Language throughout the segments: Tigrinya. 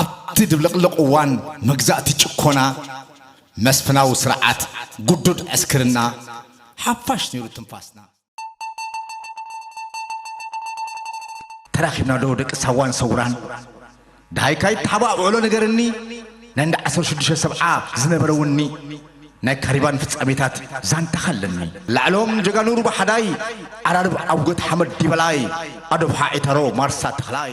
ኣብቲ ድብልቕልቕ እዋን መግዛእቲ ጭኮና፣ መስፍናዊ ስርዓት፣ ግዱድ ዕስክርና፣ ሓፋሽ ነይሩ ትንፋስና። ተራኺብና ዶ ደቂ ሳዋን ሰውራን? ደሃይካ ይተሓባእብዕሎ ንገርኒ፣ ናይ እንዳ ዓሰርተ ሽዱሽተ ሰብዓ ዝነበረ ውኒ፣ ናይ ካሪባን ፍጻሜታት ዛንታኻ ኣለኒ። ላዕሎም ጀጋኑ ሩባ ሓዳይ፣ ዓራርብ ዓውገት ሓመድ ዲበላይ፣ ኣዶብሓ ዒታሮ ማርሳ ተኽላይ።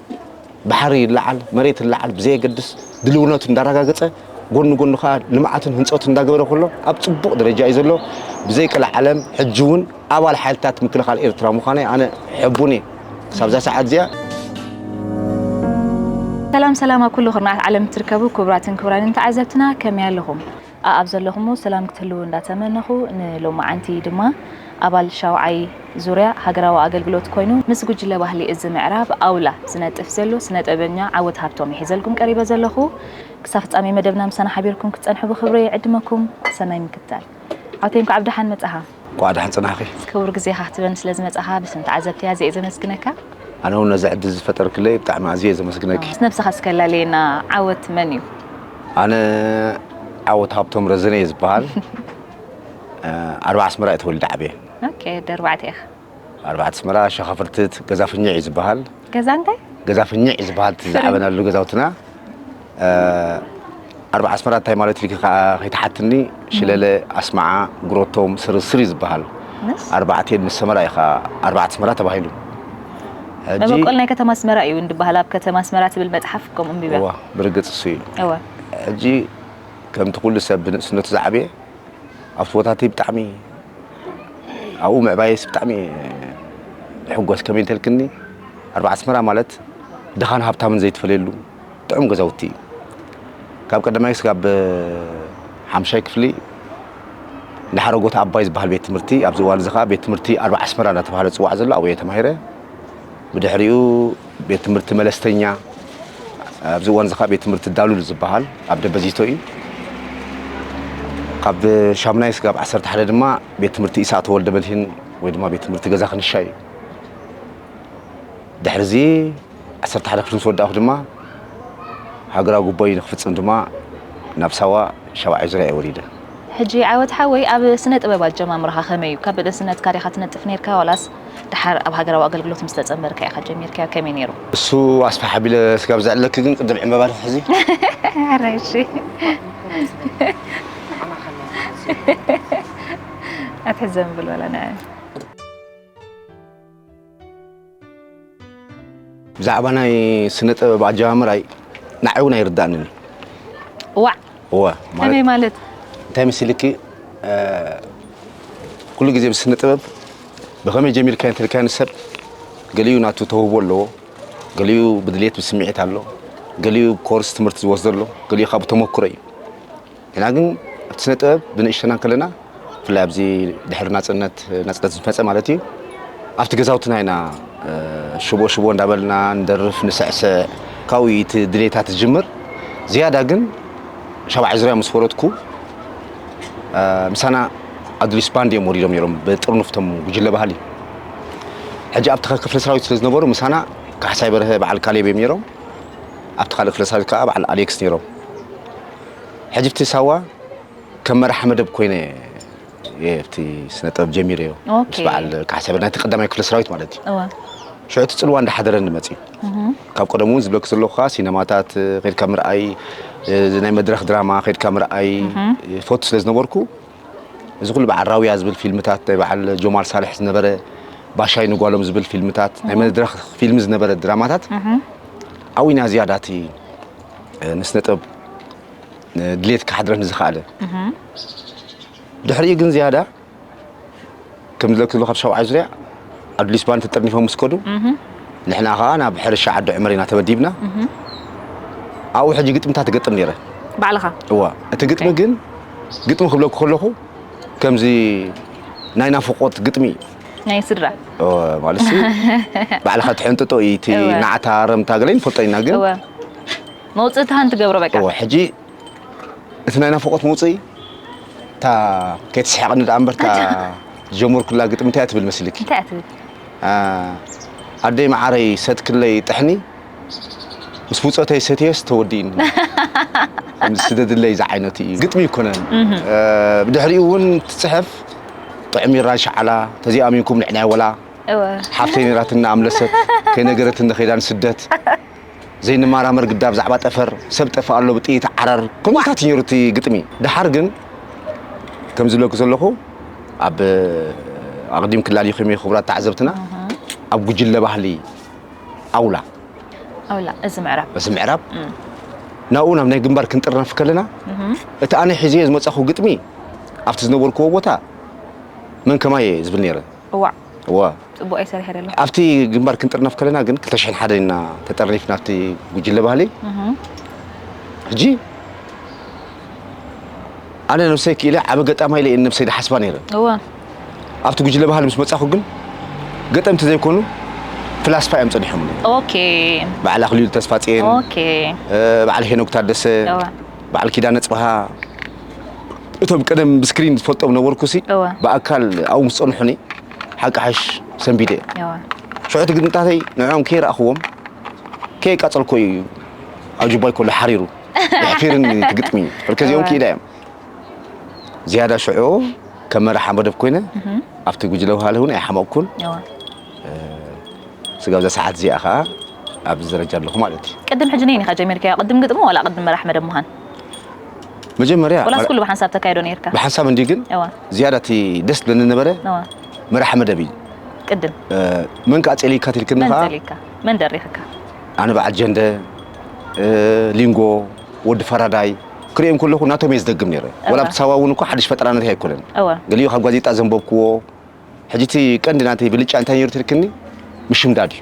ባሕሪ ይለዓል መሬት ይለዓል ብዘየገድስ ድልውነቱ እንዳረጋገፀ ጎኒ ጎኒ ከዓ ልምዓትን ህንፀቱ እንዳገበረ ከሎ ኣብ ፅቡቕ ደረጃ እዩ ዘሎ። ብዘይቀልዓለም ሕጂ እውን ኣባል ሓይልታት ምክልኻል ኤርትራ ምዃነይ ኣነ ሕቡን እየ ክሳብዛ ሰዓት እዚኣ። ሰላም ሰላም ኣብ ኩሉ ኩርናዓት ዓለም እትርከቡ ኩቡራትን ኩቡራንን ተዓዘብትና ከመይ ኣለኹም። ኣኣብ ዘለኹሞ ሰላም ክትህልዉ እንዳተመነኹ ንሎማዓንቲ ድማ ኣባል ሻውዓይ ዙርያ ሃገራዊ ኣገልግሎት ኮይኑ ምስ ጉጅለ ባህሊ እዚ ምዕራብ ኣውላ ዝነጥፍ ዘሎ ስነጥበበኛ ዓወት ሃብቶም ሒዘልኩም ቀሪበ ዘለኹ ክሳብ ፍጻሜ መደብና ምሳና ሓቢርኩም ክትጸንሑ ብኽብሪ ይዕድመኩም ሰናይ ምክትታል ዓውተይ እንኳዕ ብደሓን መጻኻ። እንኳዕ ደሓን ፅናሕኺ። ክቡር ግዜኻ ክትበኒ ስለ ዝመጻኻ ብስም ተዓዘብቲ ኣዝየ እየ ዘመስግነካ። ኣነ ውን ነዚ ዕድል እዚ ዝፈጠርክለይ ብጣዕሚ ኣዝየ እየ ዘመስግነኪ። ነብስኻ እስኪ ኣላልየና ዓወት መን እዩ? ኣነ ዓወት ሃብቶም ረዘነ እየ ዝብሃል። ኣርባ ኣስመራ እየ ተወሊደ ዓብየ። ኦኬ ወዲ ኣርባዕተ ኢኻ። ኣርባዕተ ኣስመራ ሸኻ ፍርትት ገዛ ፍኝዕ እዩ ዝበሃል ገዛ እንታይ ገዛ ፍኝዕ እዩ ዝበሃል እቲ ዝዓበናሉ ገዛውትና ኣርባዕ ኣስመራ እንታይ ማለት እዩ ከዓ ከይተሓትኒ ሽለለ ኣስማዓ ጉሮቶም ስርስር እዩ ዝበሃል ኣርባዕተ ምስ ሰመራ እዩ ከዓ ኣርባዕተ ኣስመራ ተባሂሉ መበቆል ናይ ከተማ ኣስመራ እዩ እንድበሃል ኣብ ከተማ ኣስመራ ትብል መፅሓፍ ከምኡ ንቢብያ ብርግፅ እሱ እዩ ሕጂ ከምቲ ኩሉ ሰብ ብንእስነቱ ዝዓበየ ኣብ ፎታተይ ብጣዕሚ ኣብኡ ምዕባየስ ብጣዕሚ ሕጎስ ከመይ እንተልክኒ ኣርባዓ ኣስመራ ማለት ድኻን ሃብታምን ዘይትፈለየሉ ጥዑም ገዛውቲ እዩ ካብ ቀዳማይ ስጋብ ሓምሻይ ክፍሊ ንሓረጎት ኣባይ ዝበሃል ቤት ትምህርቲ ኣብዚ እዋን እዚ ከዓ ቤት ትምህርቲ ኣርባ ዓስመራ እናተባህለ ዝፅዋዕ ዘሎ ኣብኡ እየ ተማሂረ ብድሕሪኡ ቤት ትምህርቲ መለስተኛ ኣብዚ እዋን እዚ ከዓ ቤት ትምህርቲ ዳሉል ዝበሃል ኣብ ደበዚቶ እዩ ካብ ሻምናይ ስጋብ ዓሰርተ ሓደ ድማ ቤት ትምህርቲ ኢሳቅ ተወልደ መድህን ወይ ድማ ቤት ትምህርቲ ገዛ ክንሻ እዩ ድሕሪ እዚ ዓሰርተ ሓደ ክፍሊ ምስ ወዳእኹ ድማ ሃገራዊ ጉባኤ ንክፍፅም ድማ ናብ ሳዋ ሻባዓይ ዙርያ እየ ወሪደ ሕጂ ዓወት ሓወይ ኣብ ስነ ጥበብ ኣጀማምራኻ ከመይ እዩ ካብ ብእስነትካ ዲኻ ትነጥፍ ኔርካ ዋላስ ድሓር ኣብ ሃገራዊ ኣገልግሎት ምስ ተጸንበርካ ኢኻ ጀሚርካዮ ከመይ ኔሩ። እሱ ኣስፍሕ ኣቢለ ስጋብ ዝዕለኪ ግን ቅድም ዕንበባ ትሕዚ። ሕራይ እሺ ኣትሕዘን ብልበላ ንዐኣን። ብዛዕባ ናይ ስነ ጥበብ ኣጀማምራይ ንዓይ እውን ኣይርዳእንን እዩ ዋዕ እወ ማለት ከመይ ማለት እንታይ መሲልኪ እ፣ ኩሉ ግዜ ብስነ ጥበብ ብኸመይ ጀሚርካ እንተልካዮ ንሰብ ገሊኡ ናቱ ተውህቦ ኣለዎ ገሊኡ ብድሌት ብስምዒት ኣሎ ገሊኡ ኮርስ ትምህርቲ ዝወስዶ ኣሎ ገሊኡ ካብ ተመክሮ እዩ ንሕና ግን ኣብቲ ስነ ጥበብ ብንእሽተና ከለና ብፍላይ ኣብዚ ድሕሪ ናጽነት ናጽነት ዝመጸ ማለት እዩ ኣብቲ ገዛውትና ኢና ሽቦ ሽቦ እንዳበልና ንደርፍ ንስዕስዕ ካብኡ እቲ ድሌታት ዝጅምር ዝያዳ ግን ሻብዓይ ዙርያ ምስ ወረድኩ ምሳና ኣዱሊስ ባንድ እዮም ወሪዶም ነይሮም ብጥርኑፍ ቶም ጉጅለ ባህሊ ሕጂ ኣብቲ ክፍለ ሰራዊት ስለ ዝነበሩ ምሳና ካሕሳይ በርሀ በዓል ካሌብ እዮም ነይሮም ኣብቲ ካልእ ክፍለ ሰራዊት ከዓ በዓል ኣሌክስ ነይሮም ሕጂ ኣብቲ ሳዋ ከም መራሒ መደብ ኮይነ እየ ኣብቲ ስነ ጥበብ ጀሚረዮ ኦኬ። ምስ በዓል ካሕሳይ ናይቲ ቀዳማይ ክፍለ ሰራዊት ማለት እዩ እወ ሽዑ እቲ ፅልዋ እንዳሓደረኒ መፅዩ ካብ ቀደሙ እውን ዝብለኪ ዘለኹ ከዓ ሲነማታት እ፣ ከድካ ምርኣይ እ፣ እዚ ናይ መድረኽ ድራማ ከድካ ምርኣይ እ፣ ፈቱ ስለ ዝነበርኩ እዚ ኩሉ በዓል ራውያ ዝብል ፊልምታት ናይ በዓል ጆማል ሳልሕ ዝነበረ ባሻይ ንጓሎም ዝብል ፊልምታት ናይ መድረኽ ፊልሚ ዝነበረ ድራማታት ኣብይና ዝያዳ እቲ ንስነጥበብ ድሌት ክሓድረ ንዝኸኣለ ድሕሪኡ ግን ዝያዳ ከም ዝለክሉ ካብ ሸውዓይ ዙርያ ኣዱሊስ ባን ተጠርኒፎም ምስ ከዱ ንሕና ከዓ ናብ ሕርሻ ዓዲ ዕመር ኢና ተመዲብና ኣብኡ ሕጂ ግጥምታት ትገጥም ነይረ ባዕልኻ እዋ እቲ ግጥሚ ግን ግጥሚ ክብለኩ ከለኹ ከምዚ ናይ ናፍቆት ግጥሚ ናይ ስድራ ማለት ባዕልካ ትሕንጥጦ እዩ እቲ ናዕታ ረምታ ገለ ንፈልጦ ኢና ግን መውፅእታ ሓንቲ ገብሮ በቃ ሕጂ እቲ ናይ ናፍቆት መውፅኢ እታ ከይትስሕቅኒ ደኣ እምበርታ ጀመርኩላ ግጥሚ እንታይ ትብል መስልኪ ኣደይ መዓረይ ሰትክለይ ጥሕኒ ምስ ብፆተይ ሰትየስ ተወዲእኒ ከምዚ ስደድለይ ዝዓይነቱ እዩ ግጥሚ ይኮነን ብድሕሪኡ እውን ትፅሕፍ ጥዑም ይራን ሸዓላ ተዚኣሚንኩም ንዕናይ ወላ ሓፍተይ ነራትና ኣምለሰት ከይነገረትኒ ከይዳ ንስደት ዘይንመራመር ግዳ ብዛዕባ ጠፈር ሰብ ጠፍእ ኣሎ ብጥይት ዓረር ከምኡታት ነይሩ እቲ ግጥሚ ድሓር ግን ከም ዝብለኩ ዘለኹ ኣብ ኣቕዲም ክላሊኹም ክብራት ተዓዘብትና ኣብ ጉጅለ ባህሊ ኣውላ ኣውላ እዚ ምዕራብ እዚ ምዕራብ ናብኡ ናብ ናይ ግንባር ክንጥርነፍ ከለና እቲ ኣነ ሒዘዮ ዝመጻኹ ግጥሚ ኣብቲ ዝነበርክዎ ቦታ መን ከማየ ዝብል ነይረ እዋዕ እዋ ፅቡቅ ኣይሰርሔረ ኣሎ ኣብቲ ግንባር ክንጥርነፍ ከለና ግን 201 ኢና ተጠርኒፍና ኣብቲ ጉጅለ ባህሊ ሕጂ ኣነ ነብሰይ ክኢለ ዓበ ገጣማ ኢለ ነብሰይ ድሓስባ ነይረ እዋ ኣብቲ ጉጅለ ባህሊ ምስ መጻኹ ግን ገጠምቲ ዘይኮኑ ፍላስፋ እዮም ጸኒሖም ኦኬ በዓል ኣኽሊሉ ተስፋጽየን ኦኬ በዓል ሄኖክ ታደሰ በዓል ኪዳነ ጽብሃ እቶም ቀደም ብስክሪን ዝፈልጦም ነበርኩሲ ብኣካል ኣብኡ ምስ ጸንሑኒ ሓቂ ሓሽ ሰንቢደ ሽዑ እቲ ግጥምታተይ ንዕኦም ከይረኣኽዎም ከየቃጸልኮ እዩ ኣብ ጅባይ ከሎ ሓሪሩ የሕፊርኒ ትግጥሚ ሕርከዚኦም ክኢላ እዮም ዝያዳ ሽዑ ከም መራሓ መደብ ኮይነ ኣብቲ ጉጅለ ውሃለ እውን ኣይሓመቕኩን ስጋብ እዛ ሰዓት እዚኣ ከዓ ኣብዚ ደረጃ ኣለኹ ማለት እዩ ቅድም ሕጂ ነይን ኢኻ ጀሚርካዮ ቅድም ግጥሚ ዋላ ቅድም መራሕ መደብ ምዃን መጀመርያ ወላስ ኩሉ ብሓንሳብ ተካይዶ ነይርካ ብሓንሳብ እንዲ ግን ዝያዳ እቲ ደስ ዝብለኒ ነበረ መራሕ መደብ እዩ ቅድም መን ከዓ ጸሊካ ትልክኒ ከዓ መን ደሪኽካ ኣነ በዓል ጀንደ ሊንጎ ወዲ ፈራዳይ ክሪኦም ከለኹ ናቶም እየ ዝደግም ነይረ ወላ ኣብቲ ሳዋ እውን እኮ ሓድሽ ፈጠራ ናተይ ኣይኮነን ገሊኡ ካብ ጋዜጣ ዘንበብክዎ ሕጂ እቲ ቀንዲ ናተይ ብልጫ እንታይ ነይሩ ትልክኒ ምሽምዳድ እዩ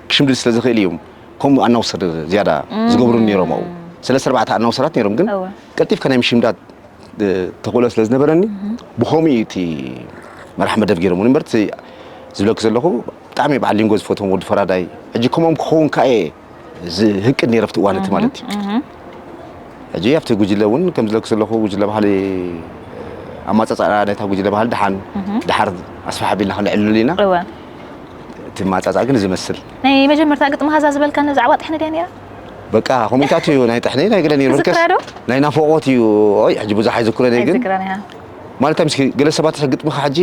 ክሽምድድ ስለ ዝኽእል እዮም ከምኡ ኣናውሰር ዝያዳ ዝገብሩ ነይሮም ኣብኡ ሰለስተ ኣርባዕተ ኣናውሰራት ነይሮም ግን ቀልጢፍካ ናይ ምሽምዳድ ተኽእሎ ስለ ዝነበረኒ ብኸምኡ እቲ መራሕ መደብ ገይሮም እምበር ዝብለኪ ዘለኹ ብጣዕሚ በዓል ሊንጎ ዝፈትዎም ወዲ ፈራዳይ ሕጂ ከምኦም ክኸውን ከኣ እየ ዝህቅድ ነይረ ኣብቲ እዋን እቲ ማለት እዩ ሕጂ ኣብቲ ጉጅለ እውን ከም ዝለኩ ዘለኹ ጉጅለ ባህሊ ኣማፃፃኣ ነታ ጉጅለ ባህሊ ድሓን ድሓር ኣስፋሕ ኣቢልና ክንዕልሉ ኢና እወ እቲ ማፃፃ ግን ዝመስል ናይ መጀመርታ ግጥሚ ሃዛ ዝበልካ ነዛዕባ ጥሕኒ ድያ ነይራ በቃ ኮሜንታት እዩ ናይ ጥሕኒ ናይ ገለ ነይሩ በርከስ ትዝክራ ዶ? ናይ ናፍቖት እዩ ኦይ ሕጂ ብዙሕ ኣይዝክሮን እየ ግን ኣይዝክራን እያ ማለት ምስኪ ገለ ሰባት ግጥምኻ ሕጂ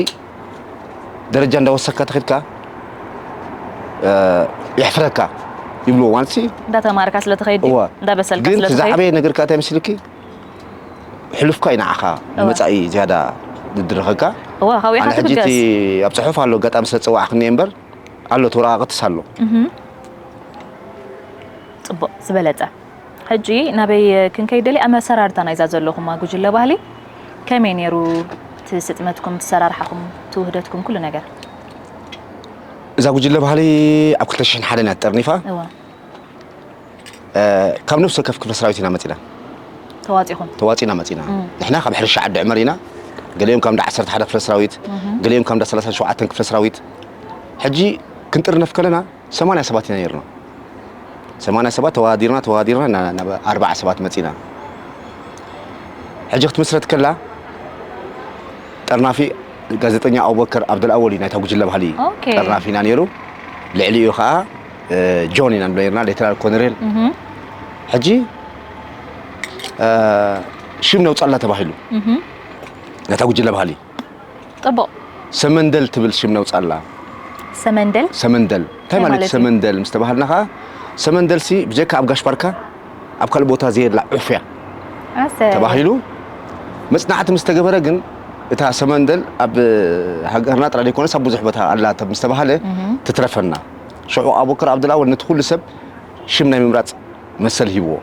ደረጃ እንዳወሰካ ተኺድካ የሕፍረካ ይብሉ ማለት ሲ እንዳተማርካ ስለ ትኸይድ እዋ እንዳበሰልካ ግን ስለ እቲ ትኸይድ ዝዓበየ ነገር ከዓ እንታይ መስልኪ ሕሉፍካ እዩ ንዓኻ ንመፃኢ ዝያዳ ዝድርኸካ እዋ ካብኡ ኣነ ኢኻ ሕጂ እቲ ትብገስ ኣብ ፅሑፍ ኣሎ ኣጋጣሚ ስለ ዝፀዋዕክኒ እየ እምበር ኣሎ ተወረቃቅትስ ኣሎ ፅቡቅ ዝበለፀ ሕጂ ናበይ ክንከይድ ደልየ ኣመሰራርታ ናይዛ ዘለኹማ ጉጅለ ባህሊ ከመይ ኔሩ እቲ ስጥመትኩም ትሰራርሓኹም ትውህደትኩም ኩሉ ነገር። እዛ ጉጅለ ባህሊ ኣብ ክልተ ሽሕን ሓደን እያ ተጠርኒፋ። እወ። ካብ ነፍሲ ወከፍ ክፍለ ሰራዊት ኢና መጺና። ተዋጺኹም። ተዋጺና መጺና። ንሕና ካብ ሕርሻ ዓዲ ዕመር ኢና። ገሊኦም ካብ እንዳ ዓሰርተ ሓደ ክፍለ ሰራዊት፣ ገሊኦም ካብ እንዳ ሰላሳን ሸውዓተን ክፍለ ሰራዊት። ሕጂ ክንጥርነፍ ከለና ሰማንያ ሰባት ኢና ነይርና። ሰማንያ ሰባት ተወዳዲርና ተወዳዲርና ኢና ናብ ኣርብዓ ሰባት መጺእና። ሕጂ ክትምስረት ከላ ጠርናፊ ጋዜጠኛ ኣቡበከር ኣብደልኣወል እዩ ናይታ ጉጅለ ባህሊ ኦኬ። ጠርናፊ ኢና ነይሩ። ልዕሊኡ ከዓ እ፣ ጆን ኢና ንብሎ ነርና ሌተናል ኮነሬል እህም፣ ሕጂ እ፣ ሽም ነውፀላ ተባሂሉ እህም፣ ናይታ ጉጅለ ባህሊ ጽቡቕ። ሰመንደል ትብል ሽም ነውጻላ። ሰመንደል ሰመንደል እንታይ እንታይ ማለት ማለት እዩ? ሰመንደል ምስ ተባሃልና ከኣ ሰመንደልሲ ብጀካ ኣብ ጋሽ ባርካ ኣብ ካልእ ቦታ ዘየላ ዑፍ እያ ኣሰይ። ተባሂሉ መጽናዕቲ ምስ ተገበረ ግን እታ ሰመንደል ኣብ ሃገርና ጥራይ ዘይኮነስ ኣብ ብዙሕ ቦታ ኣላ ተ- ምስ ተባሃለ ትትረፈና ሽዑ ኣቡበከር ዓብዱልኣወል ነቲ ኩሉ ሰብ ሽም ናይ ምምራጽ መሰል ሂብዎ።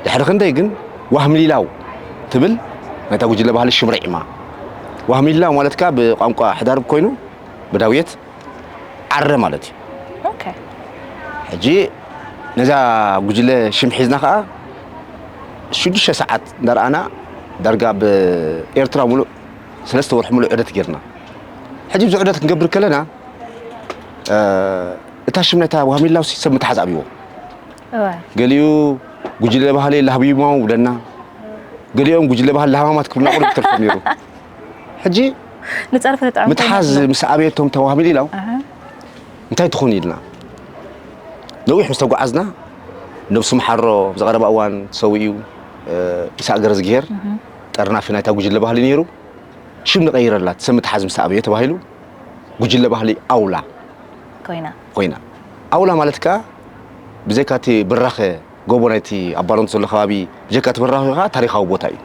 ድሕሪ ክንደይ ግን ዋህምሊላው ትብል ናይታ ጉጅለ ባህሊ ሽም ርዒማ። ዋህምሊላው ማለት ከኣ ብቋንቋ ሕዳርብ ኮይኑ ብዳውየት ዓረ ማለት እዩ። ሕጂ ነዛ ጉጅለ ሽም ሒዝና ከኣ ሽዱሽተ ሰዓት እንዳርኣና ዳርጋ ኣብ ኤርትራ ሙሉእ ሰለስተ ወርሒ ሙሉእ ዑደት ጌርና። ሕጂ እዚ ዑደት ክንገብር ከለና እታ ሽም ናይታ ዋህሚላው ሲ ሰብ ምትሓዝ ኣብዎ ገሊኡ ጉጅለ ባህሊ ላህቢማው ብለና ገሊኦም ጉጅለ ባህሊ ላህማማት ክብልና ቁርብ ትርፍ ነይሩ ሕጂ ንፀርፊ ተጠዕሙ ምትሓዝ ምስ ኣብየቶም ተዋህሚል ኢላው እንታይ ትኾን ኢልና ነዊሕ ምስ ተጓዓዝና ነብሱ መሓሮ ዝቐረባ እዋን ሰውኡ ኢሳቅ ገረዝግሄር ጠርናፊ ናይታ ጉጅለ ባህሊ ነይሩ ሽም ንቀይረላት ሰብ ምትሓዝ ምስ ኣብዮ ተባሂሉ ጉጅለ ባህሊ ኣውላ ኮይና። ኮይና። ኣውላ ማለት ከኣ ብዘይካ እቲ ብራኸ ጎቦ ናይቲ ኣብ ባረንቱ ዘሎ ከባቢ ብጀካ እቲ ብራኸ ከኣ ታሪኻዊ ቦታ እዩ።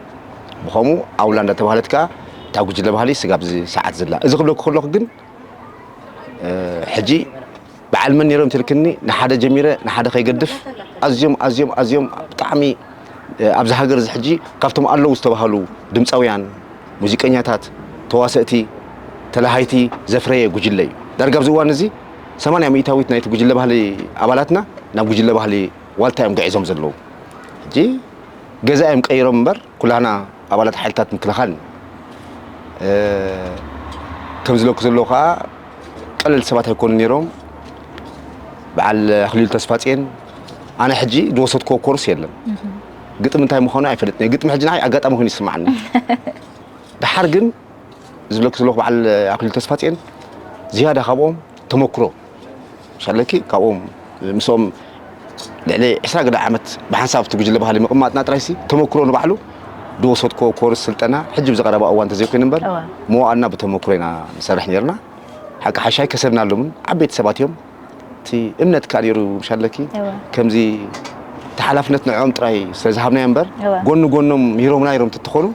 ብኸምኡ ኣውላ እንዳተባህለት ከኣ እታ ጉጅለ ባህሊ ስጋብ እዚ ሰዓት ዘላ። እዚ ክብለኩ ከለኹ ግን ሕጂ በዓል መን ነይሮም ትልክኒ ንሓደ ጀሚረ ንሓደ ከይገድፍ ኣዝዮም ኣዝዮም ኣዝዮም ብጣዕሚ ኣብዚ ሃገር እዚ ሕጂ ካብቶም ኣለዉ ዝተባህሉ ድምፃውያን ሙዚቀኛታት፣ ተዋሰእቲ፣ ተለሃይቲ ዘፍረየ ጉጅለ እዩ። ዳርጋ ኣብዚ እዋን እዚ ሰማንያ ሚኢታዊት ናይቲ ጉጅለ ባህሊ ኣባላትና ናብ ጉጅለ ባህሊ ዋልታ እዮም ግዒዞም ዘለዉ። ሕጂ ገዛ እዮም ቀይሮም እምበር ኩላህና ኣባላት ሓይልታት ምክልኻል ኢና። ከም ዝለኩ ዘለዉ ከኣ ቀለልቲ ሰባት ኣይኮኑን ነይሮም። በዓል ኣኽሊሉ ተስፋጽየን ኣነ ሕጂ ዝወሰድክዎ ኮርስ የለን። ግጥሚ እንታይ ምዃኑ ኣይፈልጥን እየ። ግጥሚ ሕጂ ንዓይ ኣጋጣሚ ኮይኑ ይስማዓኒ። ደሓር ግን ዝብለኪ ዘለኹ በዓል ኣክሊሉ ተስፋጽዮን ዝያዳ ካብኦም ተመክሮ ሻለኪ ካብኦም ምስኦም ልዕሊ ዕስራ ገለ ዓመት ብሓንሳብ እቲ ጉጅለ ባህሊ ምቕማጥና ጥራይሲ ተመክሮ ንባዕሉ ዝወሰድክዎ ኮርስ ስልጠና ሕጂ ብዚ ቀረባ እዋን እንተዘይኮይኑ እምበር እዋ። መዋእልና ብተመክሮ ኢና ንሰርሕ ነይርና። ሓቂ ሓሻይ ከሰብናሎምን ዓበይቲ ሰባት እዮም እቲ እምነት ከኣ ነይሩ ምሻለኪ ከምዚ እቲ ሓላፍነት ንዕኦም ጥራይ ስለ ዝሃብናዮ እምበር ጎኒ ጎኖም ሂሮምና ሂሮም ተትኾኑ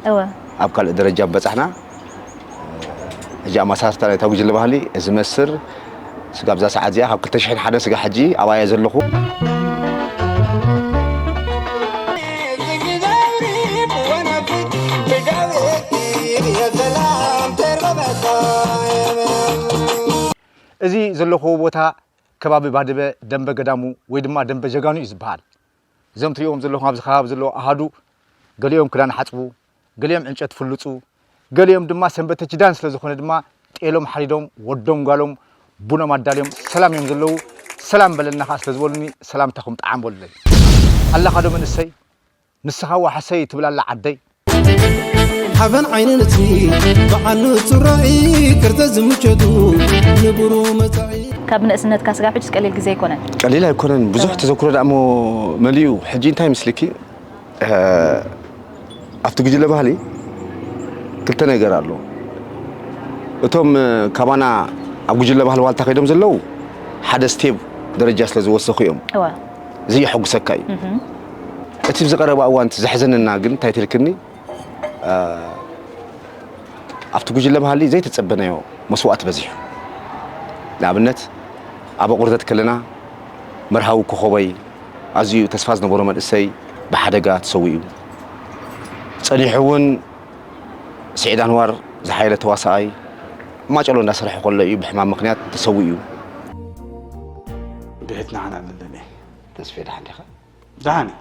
ኣብ ካልእ ደረጃ ምበጻሕና ሕጂ ኣማሳርታ ናይታ ጉጅለ ባህሊ እዚ መስር ስጋ ኣብዛ ሰዓት እዚኣ ካብ 2001 ስጋ ሕጂ ኣብኣየ ዘለኹ እዚ ዘለኹዎ ቦታ ከባቢ ባድበ ደምበ ገዳሙ ወይ ድማ ደምበ ጀጋኑ እዩ ዝበሃል። እዞም ትሪእዎም ዘለኹም ኣብዚ ከባቢ ዘለዉ ኣሃዱ ገሊኦም ክዳን ሓፅቡ፣ ገሊኦም ዕንጨት ፍልፁ፣ ገሊኦም ድማ ሰንበተ ኪዳን ስለ ዝኾነ ድማ ጤሎም ሓሪዶም ወዶም ጓሎም ቡኖም ኣዳልዮም ሰላም እዮም ዘለዉ። ሰላም በለና ከዓ ስለ ዝበሉኒ ሰላምታኹም ጠዓም በሉለይ። ኣላኻዶ መንእሰይ? ንስኻ ዋሕሰይ ትብላ ኣላ ዓደይ። ሓበን ዓይኒ ንጽሂ በዓል ንጹር ራኢ ቅርጸት ዝምቸቱ ንብሩህ መጻኢ። ካብ ንእስነት ካስጋብ ሕጅስ ቀሊል ግዜ ኣይኮነን። ቀሊል ኣይኮነን ብዙሕ ተዘክሮ ዳኣ እሞ መሊኡ ሕጂ እንታይ ይምስልኪ ኣብቲ ጉጅለ ባህሊ ክልተ ነገር ኣሎ እቶም ካባና ኣብ ጉጅለ ባህሊ ዋልታ ከይዶም ዘለዉ ሓደ ስቴብ ደረጃ ስለ ዝወሰኹ እዮም እዚ የሐጉሰካ እዩ እቲ ኣብዚ ቀረባ እዋን ዘሕዘነና ግን እንታይ ትልክኒ ኣብቲ ጉጅለ ባህሊ ዘይተጸበናዮ መስዋእቲ በዚሑ ንኣብነት ኣብ ኣቑርደት ከለና መርሃዊ ኮኸበይ ኣዝዩ ተስፋ ዝነበሮ መንእሰይ ብሓደጋ ተሰዊኡ ጸኒሑ እውን ስዒድ ኣንዋር ዝሓየለ ተዋሳኣይ ማጨሎ እንዳሰርሐ ከሎ እዩ ብሕማም ምክንያት ተሰዊኡ። ብሕት ንዓና ኣለለኒ ተስፌ ደሓን ዲኻ? ደሓን እዩ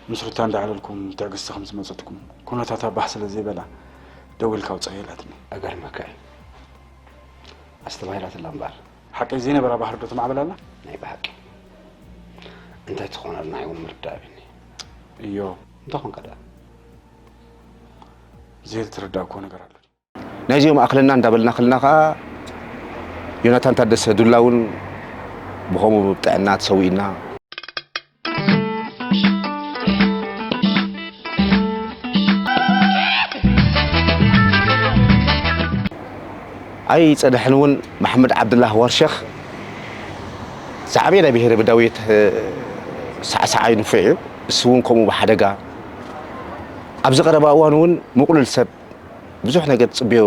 ምስ ሩታ እንዳዕለልኩም ትዕግስቲ ከም ዝመፀትኩም ኩነታታ ባህ ስለ ዘይበላ ደው ኢልካ ውፃእ የላትኒ እገርመካ እዩ ኣስተባሂላትላ እምበር ሓቂ ዘይነበራ ባህሪ ዶ ተማዕበል ኣላ ናይ ብሓቂ እንታይ ትኾነ ኣልና ይውን ምርዳእ እዮ እንታይ ኮንካ ድኣ ዘይተረዳእኩዎ ነገር ኣሎ ናይዚኦም ኣኽለና እንዳበልና ክልና ከዓ ዮናታን ታደሰ ዱላ እውን ብኸምኡ ብጥዕና ተሰዊእና ኣይ ፀድሕን እውን መሓመድ ዓብድላህ ዋርሸኽ ዝዓበየ ናይ ብሄረ በዳዊት ሳዕሳዓይ ንፉዕ እዩ ንሱውን ከምኡ ብሓደጋ ኣብዚ ቀረባ እዋን እውን ምቕሉል ሰብ ብዙሕ ነገር ትፅብዮ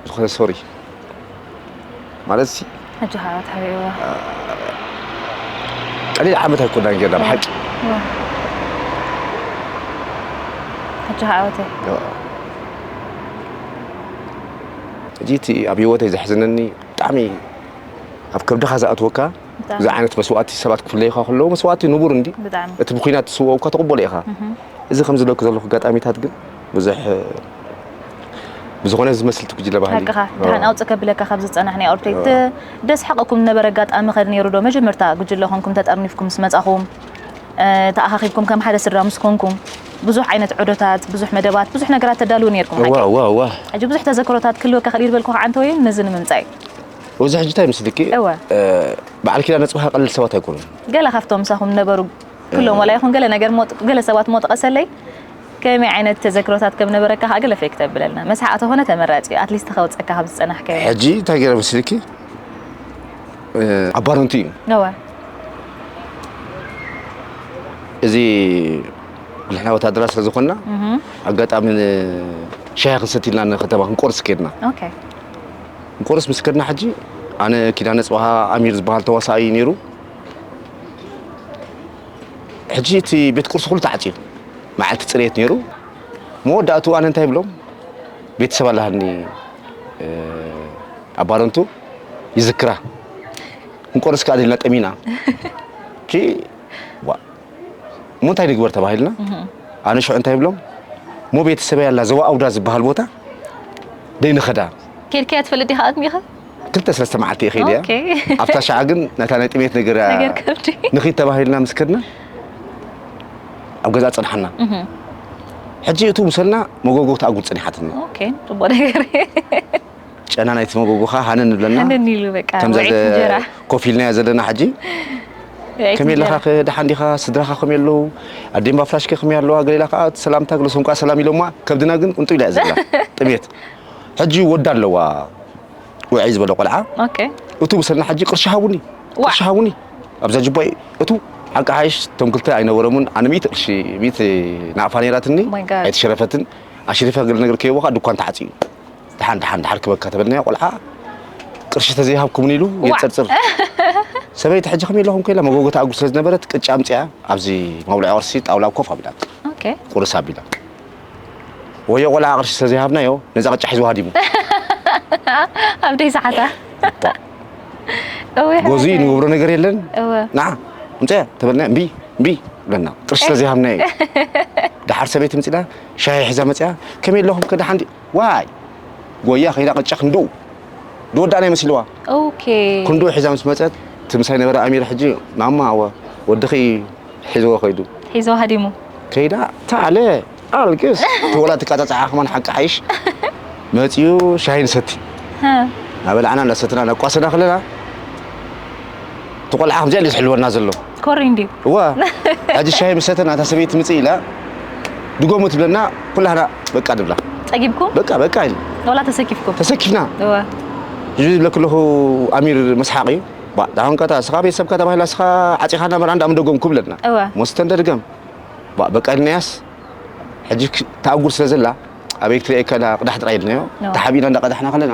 ዝኾነ ሶሪ ማለት ሲ ሕጂ ከዓ ተሪእዎ ቀሊል ዓመት ኣይኮናን ጌርና ብሓቂ ሕጂ ከዓ ወተይ ሕጂ እቲ ኣብ ሂወተይ ዘሕዝነኒ ብጣዕሚ ኣብ ከብድኻ ዝኣትወካ እዚ ዓይነት መስዋእቲ ሰባት ክፍለዩኻ ከለዉ መስዋእቲ ንቡር እንዲ እቲ ብኲናት ዝስወኡ እኳ ትቕበሎ ኢኻ እዚ ከም ዝለኩ ዘለኹ ኣጋጣሚታት ግን ብዙሕ ብዝኾነ ዝመስልቲ ጉጅለ ባህሊ ሓቅኻ ድሓን ኣውፅ ከብለካ ካብ ዝፀናሕ ናይ ኦርቶይ ደስ ሓቐኩም ዝነበረ ኣጋጣሚ ኸ ነይሩ ዶ መጀመርታ ጉጅለ ኮንኩም ተጠርኒፍኩም ምስ መፃኹም ተኣኻኺብኩም ከም ሓደ ስድራ ምስ ኮንኩም ብዙሕ ዓይነት ዑደታት ብዙሕ መደባት ብዙሕ ነገራት ተዳልዉ ነይርኩም ሓቂ ሕጂ ብዙሕ ተዘክሮታት ክህልወካ ክእል ይበልኩ ከዓ እንተወይን ነዚ ንምምፃእ እዩ ወዚ ሕጂ እንታይ ምስልኪ እወ። እ፣ በዓል ኪዳነ ጽባህ ቀልል ሰባት ኣይኮኑን ገለ ካብቶም ምሳኹም ነበሩ ኩሎም ዋላ ይኹን ገለ ነገር ሞ- ገለ ሰባት ሞ ጠቐሰለይ ከመይ ዓይነት ተዘክሮታት ከም ነበረካ ከዓ ገለ ፌክ ተብለልና መስሓ ተኾነ ተመራፂ እዩ ኣትሊስት ከውፀካ ካብ ዝፀናሕካዮ ሕጂ እንታይ ገይረ ምስልኪ እ፣ ኣባረንቱ እዩ ነወ እዚ ንሕና ወታደራት ስለ ዝኾንና ኣጋጣሚ ን- ሻሂ ክንሰቲ ኢልና ንከተማ ክንቆርስ ከድና ኦኬ ቁርስ ምስ ከድና ሕጂ ኣነ ኪዳነ ጽባሃ ኣሚር ዝበሃል ተዋሳኣይ ነይሩ ሕጂ እቲ ቤት ቁርሲ ኩሉ ተዓጽዩ መዓልቲ ጽሬት ነይሩ መወዳእቱ ኣነ እንታይ ብሎም ቤተሰብ ኣለሃኒ ኣባረንቱ ይዝክራ እንቆርስ ከኣ ደልና ጠሚና ኪ እሞ እንታይ ንግበር ተባሂልና ኣነ ሽዑ እንታይ ብሎም እሞ ቤተሰበይ ኣላ ዘዋ ኣውዳ ዝበሃል ቦታ ደይንኸዳ ኬድካያ ትፈልጥ ዲኻ ኣጥሚኻ ክልተ ሰለስተ መዓልቲ እየ ከይደ እያ ኣብታ ሸዓ ግን ናታ ናይ ጥሜት ነገር ንኽድ ተባሂልና ምስ ከድና ኣብ ገዛ ፅንሓና ሕጂ እቱ ምሰልና መጎጎ ተኣጉድ ፅኒሓትኒ ፅቡቅ ነገር ጨና ናይቲ መጎጎ ከኣ ሃነን ንብለና ሃነን ኢሉ በቃ ከምዛ ውዒት ዘ- እንጀራ ኮፍ ኢልናያ ዘለና ሕጂ ውዒት ከመይ ኣለኻ እንጀራ ከ ደሓን ዲኻ ስድራኻ ከመይ ኣለዉ ኣዴምባ ፍራሽ ከ ከመይ ኣለዋ ገሌላ ከኣ እቲ ሰላምታ ግለሶም ከኣ ሰላም ኢሎማ ከብድና ግን ቁንጡ ኢላ እያ ዘላ ጥሜት ሕጂ ወዳ ኣለዋ ውዕይ ዝበለ ቆልዓ ኦኬ እቱ ብሰና ሕጂ ቅርሺ ሃቡኒ ዋ! ቅርሺ ሃቡኒ ኣብዛ ጅባይ እቱ ሓቂ ሓይሽ እቶም ክልተ ኣይነበሮምን ኣነ ሚእቲ ቅርሺ ሚእቲ ናቕፋ ነይራትኒ Oh my God. ኣይተሸረፈትን ኣሽሪፈ ገለ ነገር ከይቦ ከዓ ድኳን ተዓፅዩ ድሓን ድሓን ድሓር ክበካ ተበልናዮ ቆልዓ ቅርሺ ተዘይሃብኩምኒ ኢሉ የፅርፅር ሰበይቲ ሕጂ ከመይ ኣለኹም ከኢላ መጎጎ ተኣጉ ስለ ዝነበረት ቅጫ ኣምፅኣ ኣብዚ መብልዒ ቅርሲ ጣውላ ኮፍ ኣቢላ ቁርስ ኣቢላ ወዮ ቆልዓ ቅርሺ ስለ ዘይሃብናዮ ነዛ ቅጫ ሒዝዋ ሃዲሙ ኣብ ደይ ሰዓታ ጎዙ ንገብሮ ነገር የለን ንዓ ምፅያ ተበልና እምቢ እምቢ ብለና ቅርሺ ስለ ዘይሃብናዮ ድሓር ሰበይቲ ምፅና ሻሂ ሒዛ መፅያ ከመይ ኣለኹም ከ ድሓን ዋይ ጎያ ከይዳ ቅጫ ክንድኡ ዝወዳእና ይመስልዋ ክንድኡ ሒዛ ምስ መፀት እቲ ምሳይ ነበረ ኣሚር ሕጂ ማማ ኣወ ወድኺ ሒዝዎ ከይዱ ሒዝዎ ሃዲሙ ከይዳ ታለ ኣልግስ ተወላ ትቃፃፃዓ ከማን ሓቂ ሓይሽ መፅኡ ሻሂ ንሰቲ እናበላዕና እናሰትና ነቋሰና ከለና እቲ ቆልዓ ከምዚኣ ዝሕልወና ዘሎ ኮሪ እንድዩ እዋ ሕጂ ሻሂ ምስ ሰተና እታ ሰበይቲ ምጽእ ኢላ ድጎሙ ትብለና ኩላህና በቃ ንብላ ጸጊብኩም በቃ በቃ ኢልና ወላ ተሰኪፍኩም ተሰኪፍና እዋ እዚ ዝብለኪ ኣለኹ ኣሚር መስሓቕ እዩ ባ ዳውን ከታ ስኻ ቤተሰብካ ተባሂላ ስኻ ዓጺኻና መርዓ እንዳ ምደጎምኩ ብለና እወ። ሞስተ እንደድገም ባ በቃ ኢልናያስ ሕጂ ክ- ተኣጉር ስለ ዘላ ኣበይ ክትርእየካ ኢላ ቅዳሕ ጥራይ ኢልናዮ እወ። ተሓቢእና እንዳቀዳሕና ከለና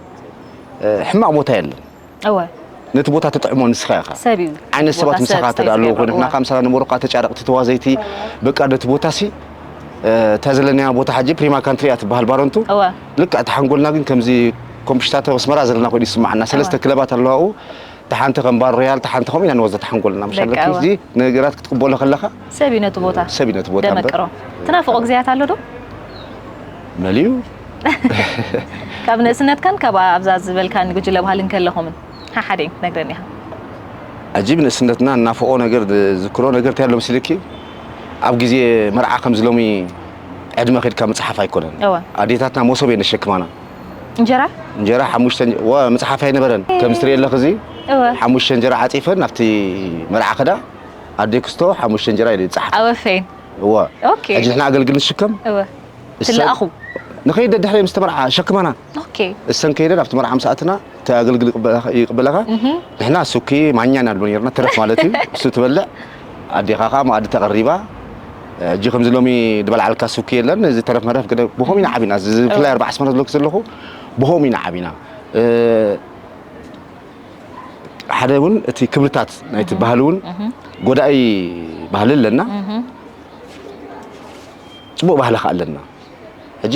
ሕማቕ ቦታ የለን እወ ነቲ ቦታ ትጥዕሞ ንስኻ ኢኻ ሰብ እዩ ዓይነት ሰባት ቦታ ምሳኻ ሰብ ተዳ ኣለዎ ኮይኑ ዝገብር፣ ናካ ምሳኻ ንበሩካ ተጫረቕቲ ተዋዘይቲ በቃ ነቲ ቦታ ሲ እታ ዘለናያ ቦታ ሓጂ ፕሪማ ካንትሪ እያ ትበሃል ባረንቱ እወ ልክዕ እቲ ሓንጎልና ግን ከምዚ ኮምሽታቶ ኣስመራ ዘለና ኮይኑ እዩ ዝስምዓና ሰለስተ ክለባት ኣለዋ ኣብኡ እታ ሓንቲ ከም ባር ሮያል፣ እታ ሓንቲ ከምኡ ኢላ ንወዘተ ሓንጎልና ምሽ ኣለኪ። ደቃዋ። እዚ ነገራት ክትቅበሎ ከለኻ ሰብ እዩ ነቲ ቦታ ሰብ እዩ ነቲ ቦታ እምበር። ደመቅሮ ትናፍቆ ግዜያት ኣሎ ዶ መሊኡ ካብ ንእስነትካን ካብ ኣብዛ ዝበልካኒ ጉጅለ ባህሊ እንከለኹምን ሓሓደ እዩ ነግረኒ ኢኻ ኣጂብ ንእስነትና እናፍቆ ነገር ዝክሮ ነገር እንታይ ኣሎ መሲልኪ ኣብ ግዜ መርዓ ከምዚ ሎሚ ዕድመ ከድካ ምፅሓፍ ኣይኮነን እወ ኣዴታትና መሶብ እየን ዘሸክማና እንጀራ እንጀራ ሓሙሽተ ወ መጽሓፍ ኣይነበረን ከምዚ ትርእየ ኣለኺ እዚ ሓሙሽተ እንጀራ ዓጺፈን ናብቲ መርዓ ከዳ ኣዴ ክስቶ ሓሙሽተ እንጀራ ኢለ ይጻሓፍ ኣወፌን እወ ኦኬ ሕጂ ንሕና ኣገልግል ንሽከም እወ ትለኣኹ ንኸይድ ደድሕሪ ምስ ተመርዓ ሸክማና ኦኬ እሰን ከይደን ኣብቲ መርዓ ምስ ኣትና እቲ ኣገልግል ይቅበለኻ ንሕና ሱኪ ማኛ ኢና ንብል ነርና ትረፍ ማለት እዩ እሱ ትበልዕ ኣዴኻ ከኣ መኣዲ ተቐሪባ ሕጂ ከምዚ ሎሚ ዝበልዓልካ ስብኪ የለን እዚ ተረፍ መረፍ ግን ብኸም ኢና ዓቢና ብፍላይ ኣርባዕ ስመረ ዝብለኪ ዘለኹ ብኸም ኢና ዓቢና ሓደ እውን እቲ ክብርታት ናይቲ ባህሊ እውን ጎዳኢ ባህሊ ኣለና ፅቡቅ ባህሊ ከዓ ኣለና ሕጂ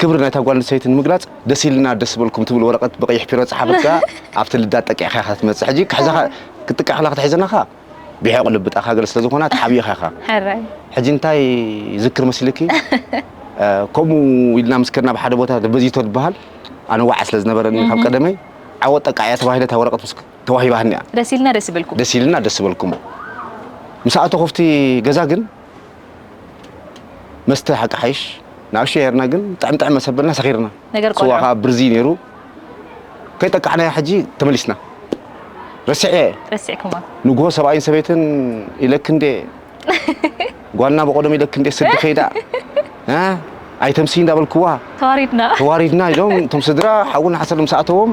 ክብሪ ናይታ ጓል ኣንስተይቲ ንምግላጽ ደስ ኢልና ደስ ዝበልኩም ትብል ወረቀት ብቀይሕ ፒሮ ዝጸሓፈት ከኣ ኣብቲ ልዳት ጠቂዕካ ኢኻ ክትመጽእ ሕጂ ክሕዛኻ ክትጥቃዕ ከላ ክትሕዘና ከኣ ብሕቕ ልቢ እታ ሃገር ስለ ዝኾና ተሓቢእኻ ኢኻ ሕራይ ሕጂ እንታይ ዝክር መሲልኪ ከምኡ ኢልና ምስ ከድና ኣብ ሓደ ቦታ በዚቶ ዝበሃል ኣነ ዋዕ ስለ ዝነበረኒ ካብ ቀደመይ ዓወት ጠቃዕ እያ ተባሂለ እታ ወረቀት ምስ ተዋሂባህኒ እያ ደስ ኢልና ደስ ይበልኩም ደስ ኢልና ደስ ዝበልኩም ምስ ኣተኹ ኣብቲ ገዛ ግን መስተ ሓቂ ሓይሽ ንኣሽዮ ሄርና ግን ጥዕም ጥዕም መሰበልና ሰኺርና ነገር ስዋ ቆልዑ ከዓ ብርዚ ነይሩ ከይጠቃዕናያ ሕጂ ተመሊስና ረሲዐ ረሲዕኩማ ንግሆ ሰብኣይን ሰበይትን ኢለክንዴ ጓልና በቆዶም ኢለክንዴ ስዲ ከይዳ እ ኣይተምስዪ እንዳበልክዋ ተዋሪድና ተዋሪድና ኢሎም እቶም ስድራ ሓውን ሓሰር ምስ ኣእተዎም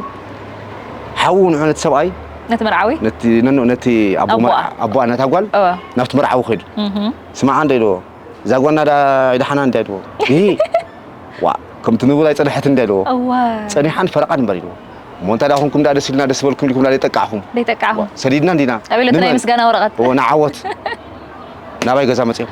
ሓዉ ንዑ ነቲ ሰብኣይ ነቲ መርዓዊ ነቲ ነኖ ነቲ ኣቦ ኣቦኣ። መርዓ ኣቦኣ ነታ ጓል እወ ናብቲ መርዓዊ ከይዱ እህ ስማዓ እንዶ ኢልዎ እዛ ጓልና ዳ ኣይደሓና እንድያ ኢልዎ ይሂ ዋእ ከምቲ ንቡር ኣይጸንሐትን እንድያ ኢልዎ እወ ጸኒሓን ፈረቓን እምበር ኢልዎ እሞ እንታይ ደኣ ኮንኩም ደኣ ደስ ኢልና ደስ በልኩም ኢልኩም ደኣ ዘይጠቃዕኹም ዘይጠቃዕኹም ሰዲድና እንዲና ኣበለቲ ናይ ምስጋና ወረቐት እወ ንዓወት ናባይ ገዛ መጺኦም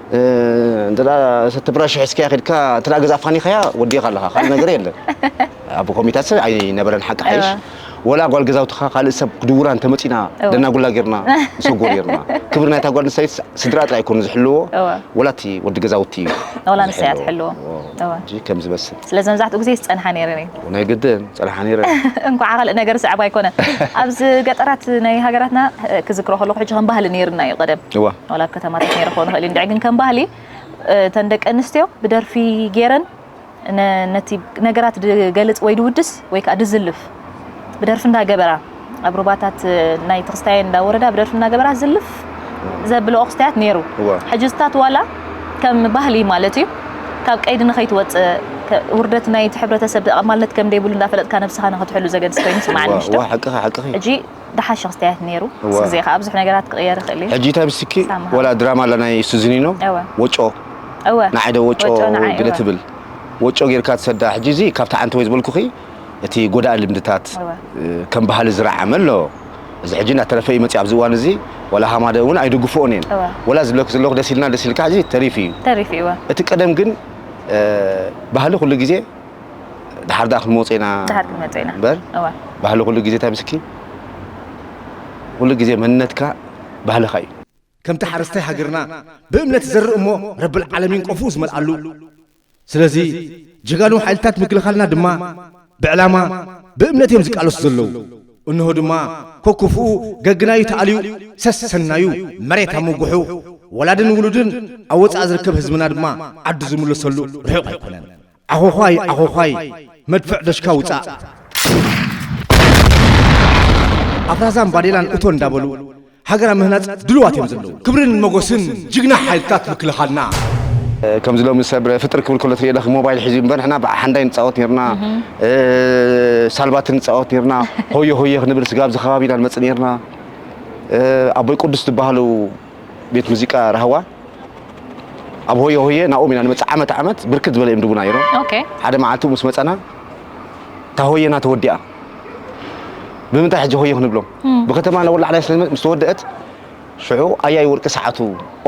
እንተ እቲ ብራሽ ሒዝካያ ከድካ እንተ ገዛ ኣፋኒኻያ ወዲእኻ ኣለኻ ካልእ ነገር የለን ኣብ ኮሚታት ሰብ ኣይነበረን ሓቂ ሓይሽ ወላ ጓል ገዛውትኻ ካልእ ሰብ ክድውራ እንተመፂና ደናጉላ ጌርና ንሰጎ ጌርና ክብሪ ናይታ ጓል ንሰይት ስድራ ጥራይ ኣይኮኑ ዝሕልዎ ወላ እቲ ወዲ ገዛውቲ እዩ ወላ ንሰያ ትሕልዎ ከምዚ መስል ስለዚ መብዛሕትኡ ግዜ ዝፀንሓ ነይረን እዩ ናይ ግድን ጸንሓ ነይረ። እንኳዓ ካልእ ነገር ሰዕቡ ኣይኮነን ኣብዚ ገጠራት ናይ ሃገራትና ክዝክሮ ከለኩ ሕጂ ከም ባህሊ ነይርና እዩ ቀደም ዋላ ኣብ ከተማታት ነይረ ክኮን ይክእል እዩ እንድዒ ግን ከም ባህሊ እተን ደቂ ኣንስትዮ ብደርፊ ገይረን ነቲ ነገራት ድገልጽ ወይ ድውድስ ወይ ከዓ ድዝልፍ ብደርፊ እንዳገበራ ኣብ ሩባታት ናይ ትክስታየን እንዳ ወረዳ ብደርፊ እናገበራ ዝልፍ ዘብልኦ ክስታያት ነይሩ ሕጂ ዝታት ዋላ ከም ባህሊ ማለት እዩ ካብ ቀይዲ ንኸይትወፅእ ውርደት ናይ እቲ ሕብረተሰብ ኣማልነት ከም ደይብሉ እንዳፈለጥካ ነብስኻ ንኽትሕሉ ዘገድስ ኮይኑ ስምዓኒ ምሽቶ ሓቅኺ ሓቅኺ ሕጂ ድሓሸ ክስታያት ነይሩ ምስ ግዜ ከዓ ብዙሕ ነገራት ክቕየር ይኽእል እዩ ሕጂ እንታይ ምስኪ ወላ ድራማ ኣላ ናይ ሱዚኒኖ ወጮ ንዓይ ዶ ወጮ ገለ ትብል ወጮ ጌርካ ትሰዳ ሕጂ እዚ ካብቲ ዓንቲ ወይ ዝበልኩኺ እቲ ጎዳኢ ልምድታት ከም ባህሊ ዝረዓመ ኣሎ። እዚ ሕጂ እናተረፈ እዩ መጺኡ ኣብዚ እዋን እዚ ዋላ ሃማደ እውን ኣይድግፍኦን እየን ዋላ ዝብለኪ ዘለኹ ደስ ኢልና ደስ ኢልካ ሕጂ ተሪፉ እዩ ተሪፉ እዩ እቲ ቀደም ግን ባህሊ ኩሉ ግዜ ድሓር ድኣ ክንመጾ ኢና ድሓር ክንመጾ ኢና እምበር ባህሊ ኩሉ ግዜ እንታይ ምስኪ ኩሉ ግዜ መንነትካ ባህልኻ እዩ ከምቲ ሓረስታይ ሃገርና ብእምነት ይዘርእ እሞ ረብልዓለሚን ቆፎኡ ዝመልኣሉ ስለዚ ጀጋኑ ሓይልታት ምክልኻልና ድማ ብዕላማ ብእምነት እዮም ዝቃለሱ ዘለዉ እንሆ ድማ ኮኩፍኡ ገግናዩ ተኣልዩ ሰሰናዩ መሬት ኣመጉሑ ወላድን ውሉድን ኣብ ወጻኢ ዝርከብ ህዝብና ድማ ዓዱ ዝምለሰሉ ርሑቕ ኣይኮነን ዓኾዃይ ዓኾዃይ መድፍዕ ደሽካ ውጻእ! ኣፍራዛን ባዴላን እቶ እንዳበሉ ሃገር ኣብ ምህናጽ ድሉዋት እዮም ዘለዉ። ክብርን መጎስን ጅግና ሓይልታት ምክልኻልና! ከምዚ ሎሚ ሰብ ፍጥር ክብል ከሎ ትሪኦ ኣለኺ ሞባይል ሒዙ እምበር ንሕና ብሓንዳይ ንጻወት ኔርና ሳልባትን ንጻወት ኔርና ሆየ ሆየ ክንብል ስጋብ እዚ ከባቢ ኢና ንመጽእ ኔርና ኣቦይ ቁዱስ ዝበሃሉ ቤት ሙዚቃ ራህዋ ኣብ ሆየ ሆየ ናብኦም ኢና ንመፅእ ዓመት ዓመት ብርክት ዝበለ እዮም ድቡና ነይሮም ኦኬ ሓደ መዓልቲ ምስ መፀና እታ ሆየና ተወዲኣ ብምንታይ ሕጂ ሆየ ክንብሎም ብከተማ ነወላዕላይ ስለ ምስ ተወደአት ሽዑ ኣያይ ወርቂ ሰዓቱ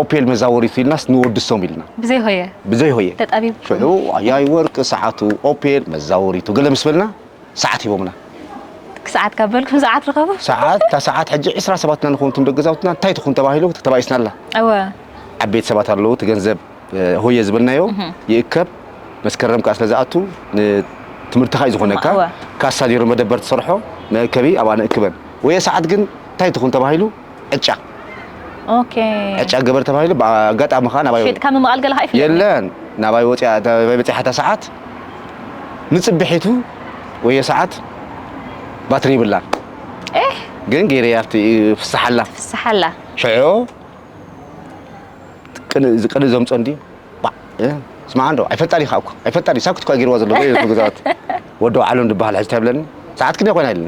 ኦፔል መዛወሪቱ ኢልናስ ንወድሶም ኢልና ብዘይ ሆየ ብዘይ ሆየ ተጣቢብኩም ሽዑ ኣያይ ወርቂ ሰዓቱ ኦፔል መዛወሪቱ ገለ ምስ በልና ሰዓት ሂቦምና። ሰዓት ካብ በልኩም ሰዓት ርኸቡ። ሰዓት እታ ሰዓት ሕጂ ዕስራ ሰባት ኢና ንኸውን እቶም ደቂ ገዛውትና እንታይ ትኹን ተባሂሉ ተባኢስና ኣላ። እወ ዓበይቲ ሰባት ኣለዉ እቲ ገንዘብ ሆየ ዝበልናዮ ይእከብ መስከረም ከኣ ስለ ዝኣቱ ንትምህርትኻ እዩ ዝኾነካ ካሳ ኔሩ መደበር ትሰርሖ መእከቢ ኣብኣ ንእክበን ወየ ሰዓት ግን እንታይ ትኹን ተባሂሉ ዕጫ ኦኬ ዕጫ ገበር ተባሂሉ ብኣጋጣሚ ከዓ ናባይ ሸጥካ ምምቓል ገለኻ ይፍለጥ የለን ናባይ ወፂኣ ናባይ በፂሓ እታ ሰዓት ንፅብሒቱ ወዮ ሰዓት ባትሪ ይብላን ኤህ ግን ገይረያ ኣብቲ ፍስሓላ ፍስሓላ ሽዑ ቅን ቅን እዞም ጸንዲ ባዕ እ፣ ስማዕ እንዶ ኣይፈልጣን ኢኻ እኮ ኣይፈልጣን እዩ ሳክት እኳ ገይርዋ ዘሎ ገዛት ወዲ ዓለም ድበሃል ሕዚ እንታይ ይብለኒ ሰዓት ክንደይ ኮይና ኢለኒ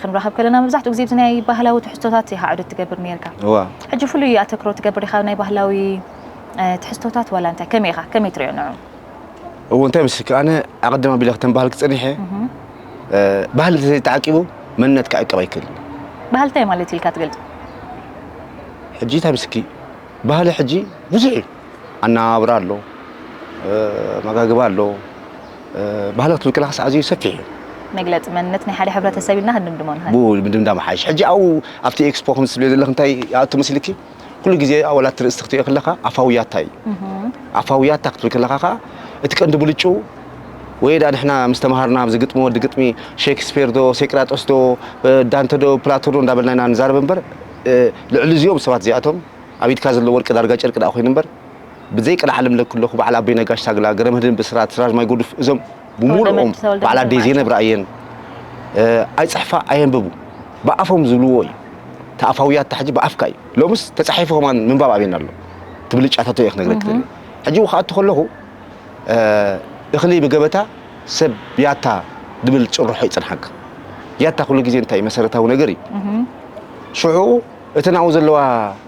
ክንራኸብ ከለና መብዛሕትኡ ግዜ ብዚ ናይ ባህላዊ ትሕዝቶታት ኢኻ ዑደት ትገብር ኔርካ። እዋ ሕጂ ፍሉይ ኣተክሮ ትገብር ኢኻ ናይ ባህላዊ ትሕዝቶታት ዋላ እንታይ ከመይ ኢኻ ከመይ ትሪኦ ንዑ? እዎ እንታይ መስልኪ ኣነ ኣቐድም ኣቢለ ክተን ባህልኪ ጸኒሐ ባህሊ እንተዘይተዓቂቡ መንነት ክዕቀብ ኣይክእልን። ባህሊ እንታይ ማለት እዩ ኢልካ ትገልጾ? ሕጂ እንታይ መስልኪ ባህሊ ሕጂ ብዙሕ እዩ ኣነባብራ ኣሎ ኣመጋግባ ኣሎ ባህሊ ክትብል ከለኻስ ኣዝዩ ሰፊሕ እዩ። መግለጺ መንነት ናይ ሓደ ሕብረተሰብ ኢልና ክንድምድሞ ንኽእል። ብኡ ምድምዳም ይሓይሽ። ሕጂ ኣብኡ ኣብቲ ኤክስፖ ከምዚ ትብልዮ ዘለኺ እንታይ ይኣቱ መሲልኪ? ኩሉ ግዜ ዋላ እቲ ርእስቲ ክትርእዮ ከለኻ ኣፋዊ ያታ እዩ። ኣፋዊ ያታ ክትብል ከለኻ ከኣ እቲ ቀንዲ ብልጭኡ ወይ ደኣ ንሕና ምስ ተመሃርና ኣብዚ ግጥሚ ወዲ ግጥሚ ሸክስፔር ዶ ሴቅራጦስ ዶ ዳንተ ዶ ፕላቶ ዶ እንዳበልና ኢና ንዛረብ እምበር ልዕሊ እዚኦም ሰባት እዚኣቶም ኣብ ኢድካ ዘሎ ወርቂ ዳርጋ ጨርቂ ደኣ ኮይኑ እምበር ብዘይ ቅልዓ ልምለ ክለኩ በዓል ኣቦይ ነጋሽ ታግላ፣ ገረመድህን ብስራት፣ ስራጅ ማይ ጎዱፍ እዞም ብሙሉኦም በዓል ኣደይ ዘይነብራ እየን ኣይፅሕፋ ኣየንብቡ ብኣፎም ዝብልዎ እዩ ተኣፋውያት ታሕጂ ብኣፍካ እዩ ሎምስ ተፃሒፉ ከማን ምንባብ ኣብየና ኣሎ ትብልጫታቶ እየ ክነግረክ ደልየ ሕጂ ክኣቱ ከለኹ እኽሊ ብገበታ ሰብ ያታ ድብል ጭርሖ ይፅንሓካ ያታ ኩሉ ግዜ እንታይ መሰረታዊ ነገር እዩ ሽዑ እተን ኣብኡ ዘለዋ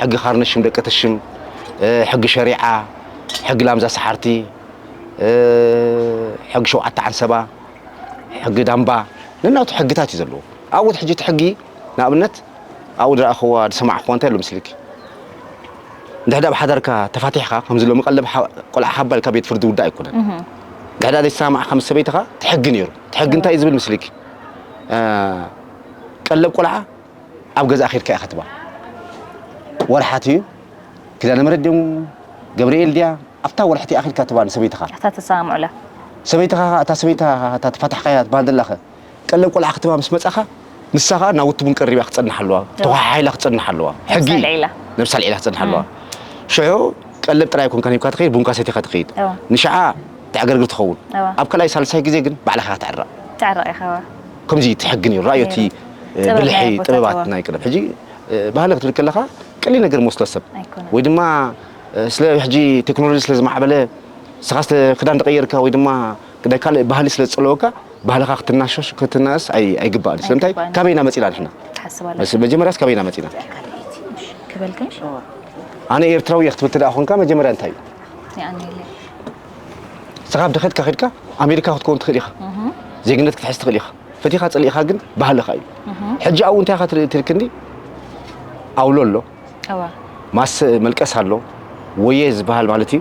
ሕጊ ካርነሽም ደቂ ትሽም፣ ሕጊ ሸሪዓ፣ ሕጊ ላምዛ ሰሓርቲ፣ ሕጊ ሸውዓተ ዓንሰባ፣ ሕጊ ዳምባ ነናቱ ሕግታት እዩ ዘለዎ። ኣብኡት ሕጂ እቲ ሕጊ ንኣብነት ኣብኡ ዝረኣኹዋ ዝሰማዕኹዋ እንታይ ኣሎ ምስልኪ እንድሕዳ ኣብ ሓዳርካ ተፋቲሕካ ከምዚ ሎሚ ቀለብ ቆልዓ ሃባ ኢልካ ቤት ፍርዲ ውዳእ ኣይኮነን እንድሕዳ ዘይተሰማማዕካ ምስ ሰበይትኻ ትሕጊ ነይሩ ትሕጊ እንታይ እዩ ዝብል ምስልኪ ቀለብ ቆልዓ ኣብ ገዛኣ ኬድካ ኢኻ ትብሃል ወርሓት እዩ ኪዳነ ምሕረት ድዮም ገብርኤል ድያ ኣብታ ወርሒ እቲኣ ኬድካ ትብሃል ንሰበይትኻ ኣታ ትሰማምዑላ ሰበይትኻ ከኣ እታ ሰበይታ እታ ተፋታሕካያ ትብሃል ዘላኸ ቀለብ ቆልዓ ክትባ ምስ መጻኻ ንሳ ከኣ ናብ ውትቡን ቀሪባ ክጸንሕ ኣለዋ ተወሓሓኢላ ክጸንሕ ኣለዋ ሕጊ እዩ ነብሳ ኣልዒላ ክጸንሕ ኣለዋ ሽዑ ቀለብ ጥራይ ኣይኮንካን ሂብካ ትኸይድ ቡንካ ሰቲኻ ትኸይድ ንሽዓ ተዕገርግር ትኸውን ኣብ ካልኣይ ሳልሳይ ግዜ ግን ባዕልኻ ክትዕረቕ ትዕረቕ ኢኻ ከምዚ እቲ ሕጊ ነይሩ ራእዮ እቲ ብልሒ ጥበባት ናይ ቀደም ሕጂ ባህሊ ክትብል ከለኻ ቀሊል ነገር መስሎ ሰብ ወይ ድማ ስለ ሕጂ ቴክኖሎጂ ስለ ዝማዕበለ ንስኻ ስለ ክዳን ተቐየርካ ወይ ድማ ግዳይ ካልእ ባህሊ ስለ ዝጸለወካ ባህልኻ ክትናሸሽ ክትናእስ ኣይግባእን ስለምንታይ ካበይና መጺና ንሕና መጀመርያስ ካበይና መጺና ኣነ ኤርትራዊ እየ ክትብል ተደኣ ኮንካ መጀመርያ እንታይ እዩ ንስኻ ኣብ ድኸትካ ከድካ ኣሜሪካ ክትከውን ትኽእል ኢኻ ዜግነት ክትሕዝ ትኽእል ኢኻ ፈቲኻ ጽሊኢኻ ግን ባህልኻ እዩ ሕጂ ኣብኡ እንታይ ኢኻ ትርኢ ትልክኒ ኣውሎ ኣሎ ማሰ መልቀስ ኣሎ ወየ ዝበሃል ማለት እዩ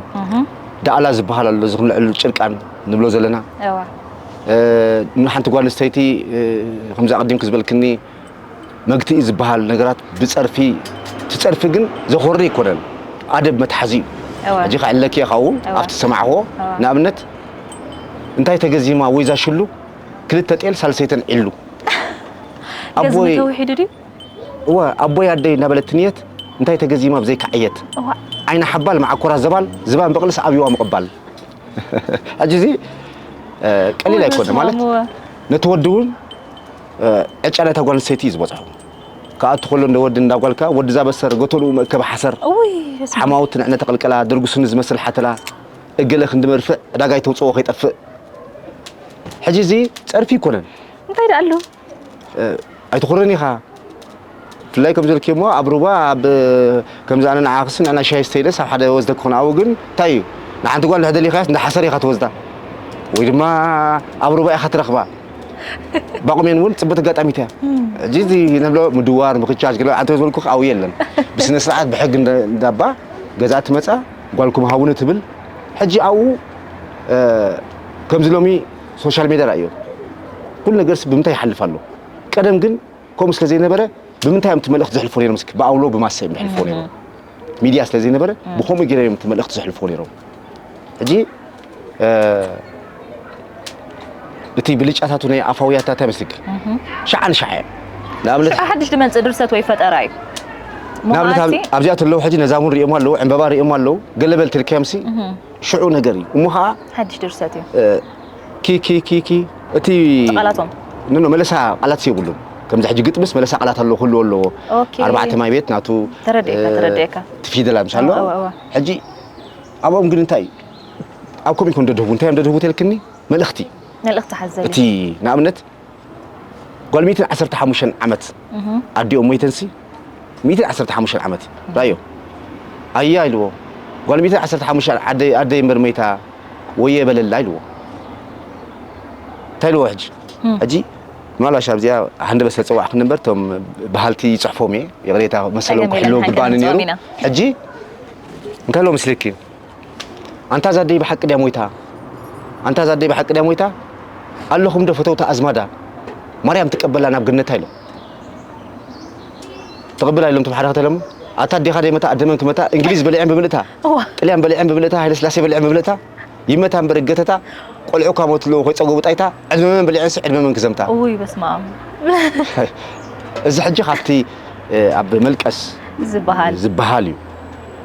ዳዕላ ዝበሃል ኣሎ እዚ ክንልዕሉ ጭርቃን ንብሎ ዘለና ንሓንቲ ጓል ኣንስተይቲ ከምዚ ኣቐዲምኪ ዝበልክኒ መግትኢ ዝበሃል ነገራት ብጸርፊ እቲ ጸርፊ ግን ዘኾሪ ኣይኮነን ኣደብ መትሓዚ እዩ እወ ሕጂ ክዕለኪ ካብኡ እወ። ኣብቲ ዝሰማዕክዎ እወ። ንኣብነት እንታይ ተገዚማ ወይ ዛሽሉ ክልተ ጤል ሳልሰይተን ዒሉ ገዝሚ ኣቦይ ተውሒዱ ድዩ እወ ኣቦይ ኣደይ እናበለት ንየት እንታይ ተገዚማ ብዘይካ ዕየት እዋእ ዓይና ሓባል መዓኮራ ዘባል ዝባን በቕልስ ኣብዩዋ ምቕባል ሕጂ እዚ እ፣ ቀሊል እወ፣ ኣይኮነ በስመ ማለት ኣብ፣ እወ። ነቲ ወዲ እውን ዕጫ ናይታ ጓል ኣንስተይቲ እዩ ዝበፅሖ ክኣቱ ከሎ እንደ ወዲ እንዳ ጓልካ ወዲ ዛበሰር ገተልኡ መእከቢ ሓሰር እውይ በስመ ኣብ ሓማውት ንዕነ ተቐልቀላ ደርጉስኒ ዝመስል ሓተላ እገለ ክንዲ መርፍእ ዕዳጋ ይተውፅኦ ከይጠፍእ ሕጂ እዚ ፀርፊ ይኮነን እንታይ ደኣ ኣሎ ኣይትኹርን ኢኻ ብፍላይ ከምዚ ኢልኪ እሞ ኣብ ሩባ ኣብ ከምዚ ኣነ ንዓክስ ንዕና ሻሂ ስተይለስ ኣብ ሓደ ወስደኪ ክኾን ኣብኡ ግን እንታይ እዩ ንሓንቲ ጓል እንድሕር ደሊኻያስ እንዳ ሓሰር ኢኻ ትወስዳ ወይ ድማ ኣብ ሩባ ኢኻ ትረኽባ ባቁሜን እውን ፅብት ኣጋጣሚት እያ እዚ እዚ ንብሎ ምድዋር ምክቻች ገለ ኣንተ ዝበልኩ ኣብኡ የለን ብስነ ስርዓት ብሕጊ እንዳባ ገዛ ትመፃ ጓልኩም ሃውኒ ትብል ሕጂ ኣብኡ ከምዚ ሎሚ ሶሻል ሜድያ ራእዮ ኩሉ ነገርስ ብምንታይ ይሓልፍ ኣሎ ቀደም ግን ከምኡ ስለ ዘይነበረ ብምንታይ እዮም እቲ መልእኽቲ ዘሕልፎ ነይሮም እስኪ ብኣውሎ ብማሰ እዮም ዘሕልፎ ነይሮም ሚድያ ስለ ዘይነበረ ብከምኡ ገይሮም እዮም እቲ መልእኽቲ ዘሕልፎ ነይሮም ሕጂ እቲ ብልጫታቱ ናይ ኣፋውያት እንታይ መስልኪ ሻዓ ንሻዓ እዮም ንኣብነት ሓድሽ ድመፅእ ድርሰት ወይ ፈጠራ እዩ ንኣብነት ኣብዚኣ ተለዉ ሕጂ ነዛ እውን ሪኦማ ኣለዉ ዕምበባ ሪኦማ ኣለዉ ገለበል ትልከምሲ ሽዑ ነገር እዩ እሞ ከዓ ሓድሽ ድርሰት እዩ ኪኪኪኪ እቲ ቃላቶም ኖ መለሳ ቃላት የብሉን ከምዚ ሕጂ ግጥምስ መለሳ ቃላት ኣለዎ ክህልዎ ኣለዎ ኦኬ ኣርባዕተ ማይ ቤት ናቱ ተረዲኤካ ተረዲኤካ እቲ ፊደል ምስ ኣለዎ እወ እወ ሕጂ ኣብኦም ግን እንታይ ኣብ ከምኡ ይኮን ደድህቡ እንታይ እዮም ደድህቡ ተልክኒ መልእኽቲ መልእኽቲ ሓዘል እቲ እዩ ንኣብነት ጓል ሚትን ዓሰርተ ሓሙሽተን ዓመት ኣዲኦም ሞይተንሲ ሚትን ዓሰርተ ሓሙሽተን ዓመት ራዮ ኣያ ኢልዎ ጓል ሚትን ዓሰርተ ሓሙሽተ ዓደይ ኣደይ እምበር ሞይታ ወየ በለላ ኢልዎ እንታይ ኢልዎ ሕጂ ሕጂ ምናልባሽ ኣብዚኣ ሃንደ በስለ ፀዋዕክ ነበር እቶም በሃልቲ ይፅሕፎም እየ ይቕሬታ መሰሎም ክሕልው ግባእኒ ነይሩ ሕጂ እንታይ ኢልዎ ምስልኪ ኣንታ እዛ ኣደይ ብሓቂ ድያ ሞይታ ኣንታ እዛ ኣደይ ብሓቂ ድያ ሞይታ ኣለኹም ዶ ፈተውቲ ኣዝማዳ ማርያም ትቀበላ ናብ ገነታ ኢሎም ተቐብላ ኢሎም ተባሓደ ከተለሙ ኣታ ኣዴኻ ደይ መታ ኣደመን ክመታ እንግሊዝ በሊዐን ብምልእታ ጥልያን በሊዐን ብምልእታ ሃይለ ስላሴ በሊዐን ብምልእታ ይመታ እምበር እገተታ ቆልዑ ካብ ሞት ኣለዎ ኮይፀገቡ ጣይታ ዕድመ መን በሊዐንሲ ዕድመ መን ክዘምታ ውይ በስመ ኣብ እዚ ሕጂ ካብቲ ኣብ መልቀስ ዝበሃል ዝበሃል እዩ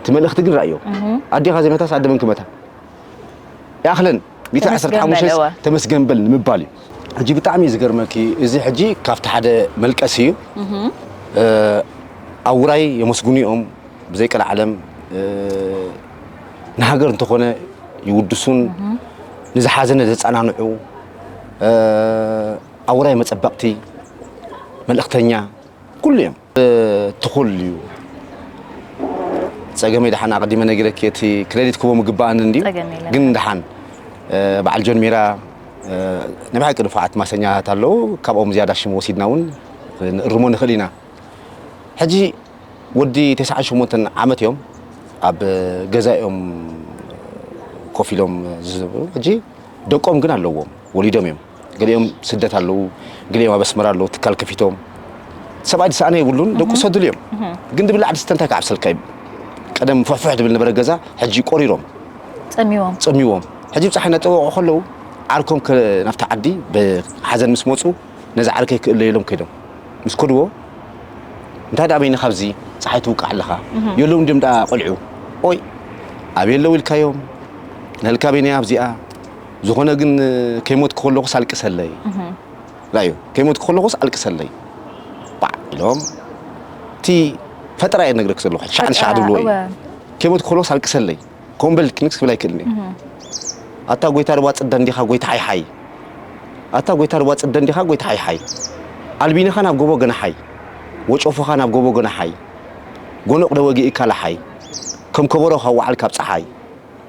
እቲ መልእኽቲ ግን ርኣዮ ኣዴኻ ዘይመታስ ኣደ መን ክመታ ይኣኽለን ቢታ 15 ተመስገን በል ንምባል እዩ ሕጂ ብጣዕሚ እዩ ዝገርመኪ እዚ ሕጂ ካብቲ ሓደ መልቀሲ እዩ ኣብ ውራይ የመስግኑ እዮም ብዘይ ቀልዓለም ንሃገር እንተኾነ ይውድሱን ንዝሓዘነ ዘጸናንዑ ኣብ ውራይ መጸበቕቲ መልእኽተኛ ኩሉ እዮም ትኹል እዩ ፀገመይ ደሓን ኣቐዲመ ነጊረኪ እቲ ክሬዲት ክቦም ይግባኣኒ እንድዩ ፀገም የለን። ግን ደሓን እ፣ በዓል ጆን ሜራ እ፣ ናይ ብሓቂ ንፉዓት ማሰኛታት ኣለዉ ካብኦም ዝያዳ ሽም ወሲድና እውን ንእርሞ ንኽእል ኢና ሕጂ ወዲ 98 ዓመት እዮም ኣብ ገዛ እዮም ኮፍ ኢሎም ዝዝብሩ ሕጂ ደቆም ግን ኣለዎም ወሊዶም እዮም ገሊኦም ስደት ኣለዉ፣ ገሊኦም ኣብ ኣስመራ ኣለዉ ትካል ከፊቶም። ሰብኣይ ዝሰኣነ የብሉን፣ ደቁ ሰድሉ እዮም። ግን ድብላ ዓዲ ስተ እንታይ ክዓብሰልካ እዩ? ቀደም ፍሕፍሕ ድብል ነበረ ገዛ፣ ሕጂ ቆሪሮም ጸሚዎም ጸሚዎም። ሕጂ ብጻሓይ እናጠወቑ ከለዉ ዓርኮም ናብቲ ዓዲ ብሓዘን ምስ መጹ ነዚ ዓርከይ ክእለዩ ኢሎም ከይዶም ምስ ከድዎ እንታይ ደኣ በይኒ ካብዚ ፀሓይ ትውቃዕ ኣለኻ የለውን ድም ደኣ ቆልዑ ኦይ ኣበይ ኣለዉ ኢልካዮም ንህልካ በይነያ ኣብዚኣ ዝኾነ ግን ከይሞትኩ ከለኹስ ኣልቅሰለይ ራዩ ከይሞትኩ ከለኹስ ኣልቅሰለይ ባዕ ኢሎም እቲ ፈጠራ እየ ነግረክ ዘለኹ ሻዕ ንሻዕ ድብልዎ እዩ ከይሞትኩ ከለኹስ ኣልቅሰለይ ከምኡ በል ክንክስ ክብል ኣይክእልን እዩ ኣታ ጎይታ ርባ ፅደ እንዲኻ ጎይታ ሓይሓይ ኣታ ጎይታ ርባ ፅደ እንዲኻ ጎይታ ሓይሓይ ኣልቢንኻ ናብ ጎቦ ገናሓይ ወጨፎኻ ናብ ጎቦ ገናሓይ ጎኖቕ ደወጊእካ ላሓይ ከም ከበሮ ካብ ወዓል ካብ ፀሓይ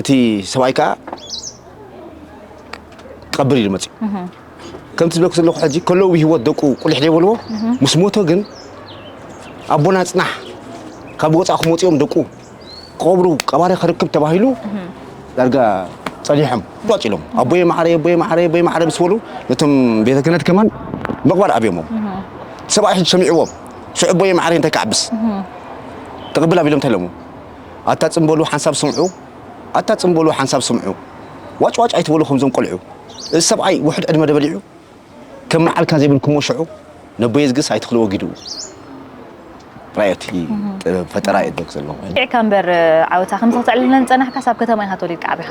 እቲ ሰብኣይ ከዓ ክቐብር ኢሉ መፅኡ ከምቲ ዝብለኩ ዘለኹ ሕጂ ከለዉ ብሂወት ደቁ ቁሊሕ ዘይበልዎ ምስ ሞተ ግን ኣቦና ፅናሕ ካብ ወፃእ ክመፅኦም ደቁ ክቐብሩ ቀባሪ ክርክብ ተባሂሉ ዳርጋ ጸኒሖም ቋጭ ኢሎም ኣቦየ ማዕረይ ኣቦየ ማዕረይ ኣቦየ ማዕረይ ምስ በሉ ነቶም ቤተ ክህነት ከማን ምቕባር ኣብዮሞም ሰብኣይ ሕጂ ሰሚዕዎም ሽዑ ኣቦየ ማዕረይ እንታይ ክዓብስ ክቕብል ኣቢሎም ተለሙ ኣታ ጽን በሉ ሓንሳብ ስምዑ ኣታ ጽን በሉ ሓንሳብ ስምዑ ዋጭ ዋጭ ኣይትበሉ ከምዞም ቆልዑ እዚ ሰብኣይ ውሑድ ዕድመ ዶ በሊዑ ከም መዓልካ ዘይብልኩሞ ሽዑ ነቦየዝግስ ኣይትኽልዎ ጊድኡ ራእዮቲ ጥበብ ፈጠራ እየ ዘለኹ። ኪዕካ እምበር ዓወታ ከምዚ ከተዕልለና ዝጸናሕካስ ኣብ ከተማ ኢኻ ተወሊድካ ዓቢኻ።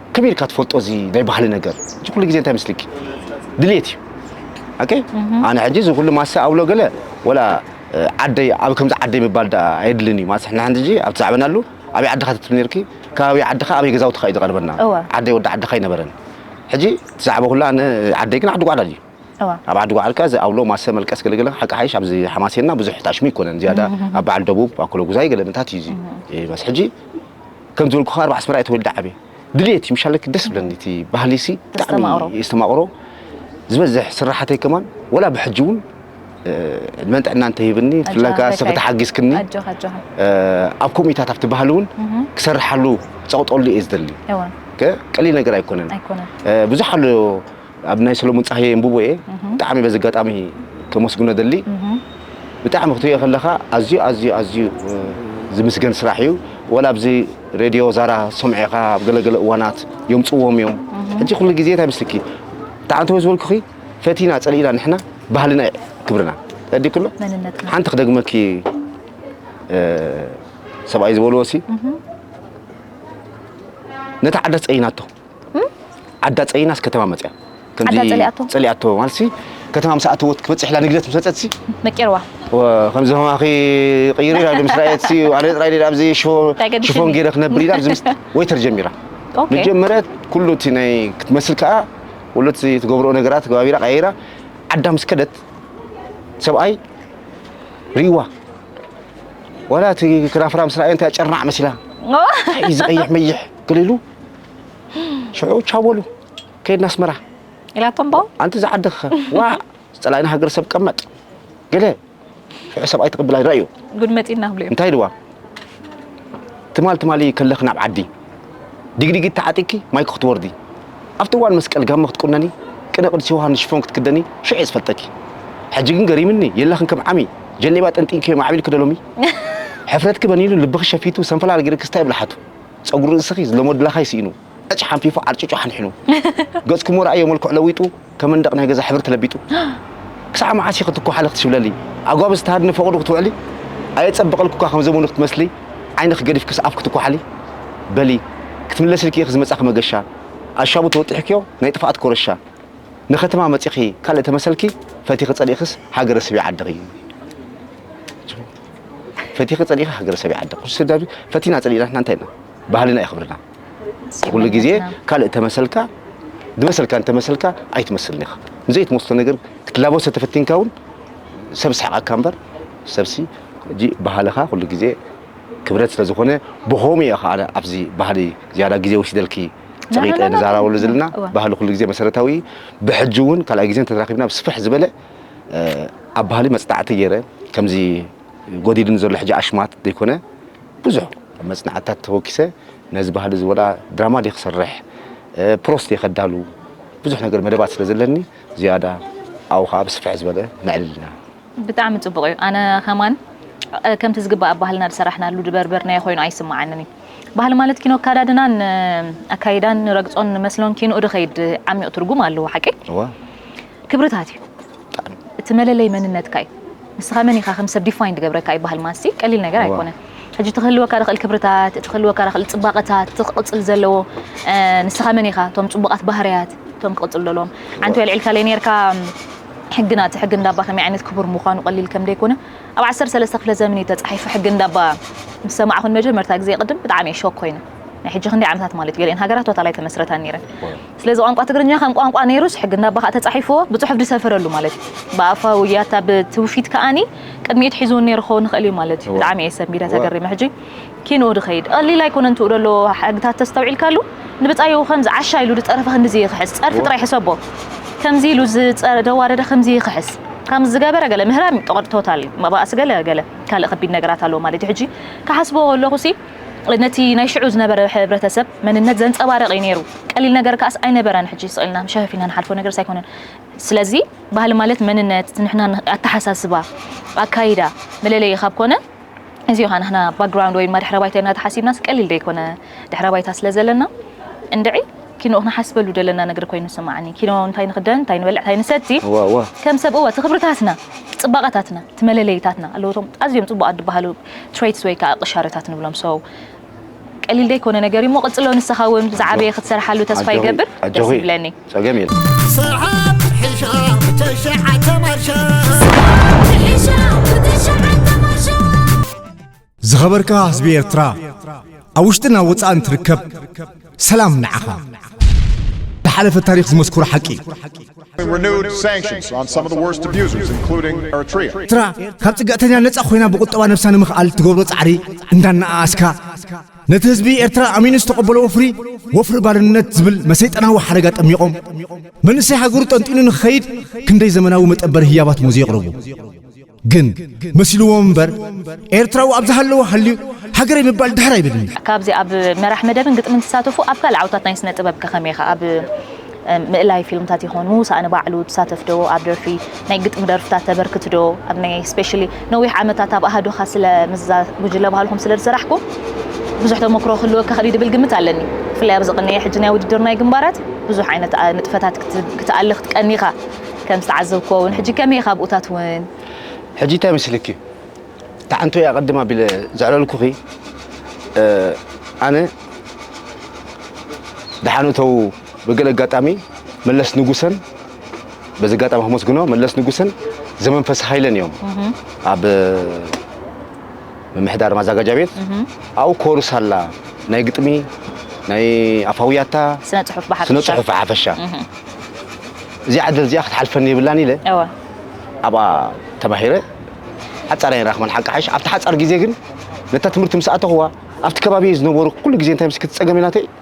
ከመይ ኢልካ ትፈልጦ እዚ ናይ ባህሊ ነገር እዚ ኩሉ ግዜ እንታይ መስልኪ ድሌት እዩ ኦኬ ኣነ ሕጂ እዚ ኩሉ ማሰ ኣብሎ ገለ ወላ ዓደይ ኣብ ከምዚ ዓደይ ምባል ዳ ኣየድልን እዩ ማለት ንሕና ሕጂ ኣብ ትዛዕበና ኣሉ ኣበይ ዓድኻ ትትብል ነርኪ ከባቢ ዓድኻ ኣበይ ገዛውትኻ እዩ ዝቐርበና እወ። ዓደይ ወዲ ዓድኻ ኣይነበረን ሕጂ ትዛዕበ ኩላ ኣነ ዓደይ ግን ዓዲ ጓዕዳል እዩ እወ። ኣብ ዓዲ ጓዕዳል ከ እዚ ኣብሎ ማሰ መልቀስ ገለገለ ሓቂ ሓይሽ ኣብዚ ሓማሴንና ብዙሕ ጣሽሙ ኣይኮነን ዝያዳ ኣብ በዓል ደቡብ ኣኮለጉዛይ ገለ ምታት እዩ እዚ እ፣ በስ ሕጂ ከም ዝበልኩ ካብ ኣስመራ እየ ተወልደ ዓብየ ድልየት እዩ ምሻለክ ደስ ብለኒ እቲ ባህሊ ሲ ብጣዕሚ ዝተማቕሮ ዝበዝሕ ስራሓተይ ከማን ወላ ብሕጂ እውን ዕድመን ጥዕና እንተሂብኒ ብፍላይ ከዓ ሰፈ ተሓጊዝክኒ ኣብ ኮሚታት ኣብቲ ባህሊ እውን ክሰርሓሉ ፀቕጠሉ እየ ዝደሊ ቀሊል ነገር ኣይኮነን ብዙሕ ኣሎ ኣብ ናይ ሰለሙን ጻህየ የንብቦ እየ ብጣዕሚ በዚ ኣጋጣሚ ከመስግኖ ደሊ ብጣዕሚ ክትሪኦ ከለኻ ኣዝዩ ኣዝዩ ኣዝዩ ዝምስገን ስራሕ እዩ ወላ ኣብዚ ሬድዮ ዛራ ሰምዔኻ ኣብ ገለገለ እዋናት የምጽዎም እዮም ሕጂ ኩሉ ግዜ እንታይ ምስልኪ ብጣዕሚ ተወ ዝበልኩኺ ፈቲና ጸሊእና ንሕና ባህልና ክብርና ተዲ ኩሎ ሓንቲ ክደግመኪ ሰብኣይ ዝበልዎ ሲ ነታ ዓዳ ጸይናቶ ዓዳ ጸሊናስ ከተማ መጽያ ከምዚ ዓዳ ጸሊኣቶ? ጸሊኣቶ ማለትሲ ከተማ ምስ ኣተወት ክበጽሕ ኢላ ንግደት ምስ መጸትሲ መቂርዋ ከምዚ ከማኺ ቅይር ኢላ ምስ ረኣየትሲ ኣነ ጥራይ ድየ ኣብዚ ሽፎ እንታይ ገዲሱኒ? ሽፎን ገይረ ክነብር ኢላ ኣብዚ ምስ ወይተር ጀሚራ ኦኬ። መጀመርያ ኩሉ እቲ ናይ ክትመስል ከኣ ኩሉ እቲ ትገብሮ ነገራት ገባቢራ ቀያይራ ዓዳ ምስ ከደት ሰብኣይ ርእይዋ ዋላ እቲ ክራፍራ ምስ ረኣየ እንታይ ጨርናዕ መሲላ ታይ እዚ ቀይሕ መይሕ ገለ ኢሉ ሽዑ ቻው በሉ ከይድና ኣስመራ ኢላቶም ቦ ኣንቲ ዝዓድኸ ዋ ዝፀላእና ሃገር ሰብ ቀመጥ ገለ ሽዑ ሰብኣይ ትቕብል ኣይረኣዩ ጉድ መፂና ክብሉ እዮም እንታይ ኢልዋ ትማል ትማሊ ከለኺ ናብ ዓዲ ዲግዲጊ ተዓጢቂ ማይክ ክትወርዲ ኣብቲ እዋን መስቀል ጋመ ክትቁነኒ ቅነ ቅዱስ ዮሃንስ ሽፎን ክትክደኒ ሽዑ እየ ዝፈልጠኪ ሕጂ ግን ገሪምኒ የላኽን ከም ዓሚ ጀሌባ ጠንጢንኪ ማዕቢልኪ ዶ ሎሚ ሕፍረትኪ በኒኑ ልብኺ ሸፊቱ ሰንፈላል ገይርኪ ስታይ ብልሓቱ ጸጉሪ ርእስኺ ዝለሞድላኻይ ስኢኑ፣ ዕጭ ሓንፊፉ ዓርጭጩ ሓንሒኑ፣ ገጽክሞ ረኣዮ መልክዑ ለዊጡ፣ ከም መንደቕ ናይ ገዛ ሕብሪ ተለቢጡ። ክሳዕ መዓስ ኢኺ ትኳሓሊ ክትሽብለሊ፣ ኣጓብዝ ተሃድኒ ፈቐዶ ክትውዕሊ፣ ኣየጸብቐልኩካ ከም ዘመኑ ክትመስሊ፣ ዓይንኺ ገዲፍክስ ኣፍ ክትኳሓሊ። በሊ ክትምለስልኪ ኢኺ ዝመጻኺ መገሻ፣ ኣሻቡ ተወጢሕክዮ ናይ ጥፍኣት ኮረሻ። ንከተማ መጺኺ ካልእ ተመሰልኪ፣ ፈቲኺ ጸሊእክስ ሃገረ ስቢ ዓድኺ። ፈቲኺ ጸሊኢኺ ሃገረ ሰበይ ዓዲ ቁርሲ ስደዱ ፈቲና ጸሊኢና ንሕና እንታይ ኢና ባህልና እዩ ክብርና ኩሉ ግዜ ካልእ ተመሰልካ ዝመሰልካ እንተመሰልካ ኣይትመስልን ኢኻ ንዘይትመስሎ ነገር ክትላበሶ ተፈቲንካ እውን ሰብ ስሕቃካ እምበር ሰብሲ ሕጂ ባህልኻ ኩሉ ግዜ ክብረት ስለ ዝኾነ ብኸምኡ እየ ከዓ ኣብዚ ባህሊ ዝያዳ ግዜ ወሲደልኪ ጸቂጠ ንዛራበሉ ዘለና ባህሊ ኩሉ ግዜ መሰረታዊ ብሕጂ እውን ካልኣይ ግዜ እንተተራኺብና ብስፍሕ ዝበለ ኣብ ባህሊ መጽናዕቲ ገይረ ከምዚ ጎዲድን ዘሎ ሕጂ ኣሽማት ዘይኮነ ብዙሕ ኣብ መጽናዕትታት ተወኪሰ ነዚ ባህሊ እዚ ወላ ድራማ ድየ ክሰርሕ ፕሮስ ድየ ከዳሉ ብዙሕ ነገር መደባት ስለ ዘለኒ ዝያዳ ኣብኡ ከዓ ብስፍሕ ዝበለ ነዕልልና ብጣዕሚ ጽቡቕ እዩ ኣነ ከማን ከምቲ ዝግባእ ኣብ ባህልና ዝሰራሕናሉ ድበርበርናዮ ኮይኑ ኣይስምዓንን እዩ ባህሊ ማለት ኪኖ ኣካዳድናን ኣካይዳን ንረግጾን ንመስሎን ኪንኡ ድኸይድ ዓሚቕ ትርጉም ኣለዎ ሓቂ ክብርታት እዩ እቲ መለለይ መንነትካ እዩ ንስኻ መን ኢኻ ከም ሰብ ዲፋይን ድገብረካ ይበሃል ማንስቲ ቀሊል ነገር ኣይኮነን ሕጂ እቲ ክህልወካ ድኽእል ክብርታት እቲ ክህልወካ ድኽእል ፅባቐታት እቲ ክቕፅል ዘለዎ ንስኻ መን ኢኻ እቶም ፅቡቓት ባህርያት እቶም ክቕፅሉ ዘለዎም ሓንቲ ኣልዒልካ ለይ ነርካ ሕግና እቲ ሕጊ እንዳባ ከመይ ዓይነት ክቡር ምዃኑ ቀሊል ከም ደይኮነ ኣብ ዓሰርተ ሰለስተ ክፍለ ዘመን እዩ ተፃሒፉ ሕጊ እንዳባ ምስ ሰማዕኹ ንመጀመርታ ግዜ ቅድም ብጣዕሚ እየ ሾክ ኮይነ ናይ ሕጂ ክንደይ ዓመታት ማለት እዩ ገሊኤን ሃገራት ቶታል ኣይተመስረታን ነይረን ስለዚ ቋንቋ ትግርኛ ከም ቋንቋ ነይሩስ ሕጊ እንዳባ ከዓ ተፃሒፍዎ ብፅሑፍ ዝሰፈረሉ ማለት እዩ ብኣፋዊ ውያታ ብትውፊት ከዓኒ ቅድሚኡ ትሒዝውን ነይሩ ክኸውን ይኽእል እዩ ማለት እዩ ብጣዕሚ እየ ሰብ ሚድያ ተገሪመ ሕጂ ኪንኡ ድኸይድ ቀሊል ኣይኮነን ትኡ ደሎ ሕግታት ተስተውዒልካሉ ንብፃዩ ከምዚ ዓሻ ኢሉ ዝፀረፈ ክንዲዚ ይኽሕስ ፀርፊ ጥራይ ሕሰቦ ከምዚ ኢሉ ዝደዋደደ ከምዚ ይኽሕስ ከም ዝገበረ ገለ ምህራም ቶታል እዩ መባእሲ ገለ ገለ ካልእ ከቢድ ነገራት ኣለዎ ማለት እዩ ሕጂ ክሓስቦ ከለኹ ሲ ነቲ ናይ ሽዑ ዝነበረ ሕብረተሰብ መንነት ዘንጸባርቕ እዩ ነይሩ። ቀሊል ነገር ከኣስ ኣይነበረን ሕጂ ስቕ ኢልና ሸፈፍ ኢልና ንሓልፎ ነገርስ ኣይኮነን። ስለዚ ባህሊ ማለት መንነት፣ ዝንሕና ኣተሓሳስባ፣ ኣካይዳ፣ መለለዪ ካብ ኮነ እዚዮ ከኣ ንሕና ባክግራውንድ ወይ ድማ ድሕረ ባይታ ኢልና ተሓሲብናስ ቀሊል ዶ ይኮነ ድሕረ ባይታ ስለ ዘለና እንድዒ ኪኖ ክንሓስበሉ ደለና ነገር ኮይኑ ይስምዓኒ ኪኖ እንታይ ንክደን እንታይ ንበልዕ እንታይ ንሰቲ ከም ሰብ እወ እቲ ክብርታትና እቲ ጽባቐታትና እቲ መለለዪታትና ኣለዉ እቶም ኣዝዮም ጽቡቓት ዝበሃሉ ትረይትስ ወይ ከኣ ቅሻረታት ንብሎም so ቀሊል ዘይኮነ ነገር እዩ እሞ ቅጽሎ ንስኻ ውን ዝዓበየ ክትሰርሓሉ ተስፋ ይገብር ደስ ይብለኒ ጸገም የለን ሰዓት ሒሻ ብተሸዓተ ማርሻ ዝኸበርካ ህዝቢ ኤርትራ ኣብ ውሽጥን ኣብ ወጻእን ትርከብ ሰላም ንዓኻ! ዝሓለፈ ታሪኽ ዝመስክሮ ሓቂ እዩ። renewed sanctions on some of the worst abusers, including Eritrea. ኤርትራ ካብ ፅግዕተኛ ነፃ ኮይና ብቁጠባ ነብሳ ንምኽኣል እትገብሮ ፃዕሪ እንዳነኣኣስካ ነቲ ህዝቢ ኤርትራ ኣሚኑ ዝተቐበሎ ወፍሪ ወፍሪ ባርነት ዝብል መሰይጠናዊ ሓረጋ ጠሚቖም መንእሰይ ሃገሩ ጠንጢኑ ንክኸይድ ክንደይ ዘመናዊ መጠበሪ ህያባት ሞዝ የቕርቡ ግን መሲልዎም እምበር ኤርትራዊ ኣብ ዝሃለወ ሃልዩ ሃገረይ ምባል ድሕር ኣይብልን እዩ። ካብዚ ኣብ መራሕ መደብን ግጥምን ትሳተፉ ኣብ ካልእ ዓውታት ናይ ስነ ጥበብ ከ ከመይ ኢኻ ኣብ ምእላይ ፊልምታት ይኹን ምውሳእ ንባዕሉ ትሳተፍ ዶ ኣብ ደርፊ ናይ ግጥሚ ደርፍታት ተበርክት ዶ ኣብ ናይ ስፔሻሊ ነዊሕ ዓመታት ኣብ ኣሃዱኻ ስለ ምስዛ ጉጅለ ባህልኹም ስለ ዝሰራሕኩም ብዙሕ ተሞክሮ ክህልወካ ክእል ድብል ግምት ኣለኒ ብፍላይ ኣብዚ ቅንየ ሕጂ ናይ ውድድር ናይ ግንባራት ብዙሕ ዓይነት ንጥፈታት ክትኣሊ ክትቀኒ ኢኻ ከም ዝተዓዘብክዎ ውን ሕጂ ከመይ ኢኻ ኣብኡታት ውን? ሕጂ እንታይ መስልኪ ታዓንቶይ ኣቐድም ኣቢለ ዘዕለልኩኺ ኣነ ደሓን እተዉ ብገለ ኣጋጣሚ መለስ ንጉሰን በዚ ኣጋጣሚ ከመስግኖ መለስ ንጉሰን ዘመንፈስ ሃይለን እዮም ኣብ ምምሕዳር ማዛጋጃ ቤት ኣብኡ ኮርስ ኣላ ናይ ግጥሚ ናይ ኣፋውያታ ስነ ጽሑፍ ብሓፈሻ ስነ ጽሑፍ ብሓፈሻ እዚኣ ዕድል እዚኣ ክትሓልፈኒ የብላን ኢለ ኣብኣ ተማሂረ ሓፃር ኣይራኽበን ሓቂ ሓሽ ኣብቲ ሓፃር ግዜ ግን ነታ ትምህርቲ ምስ ኣተኹዋ ኣብቲ ከባቢ ዝነበሩ ኩሉ ግዜ እንታይ ምስ ክትፀገም ኢላተይ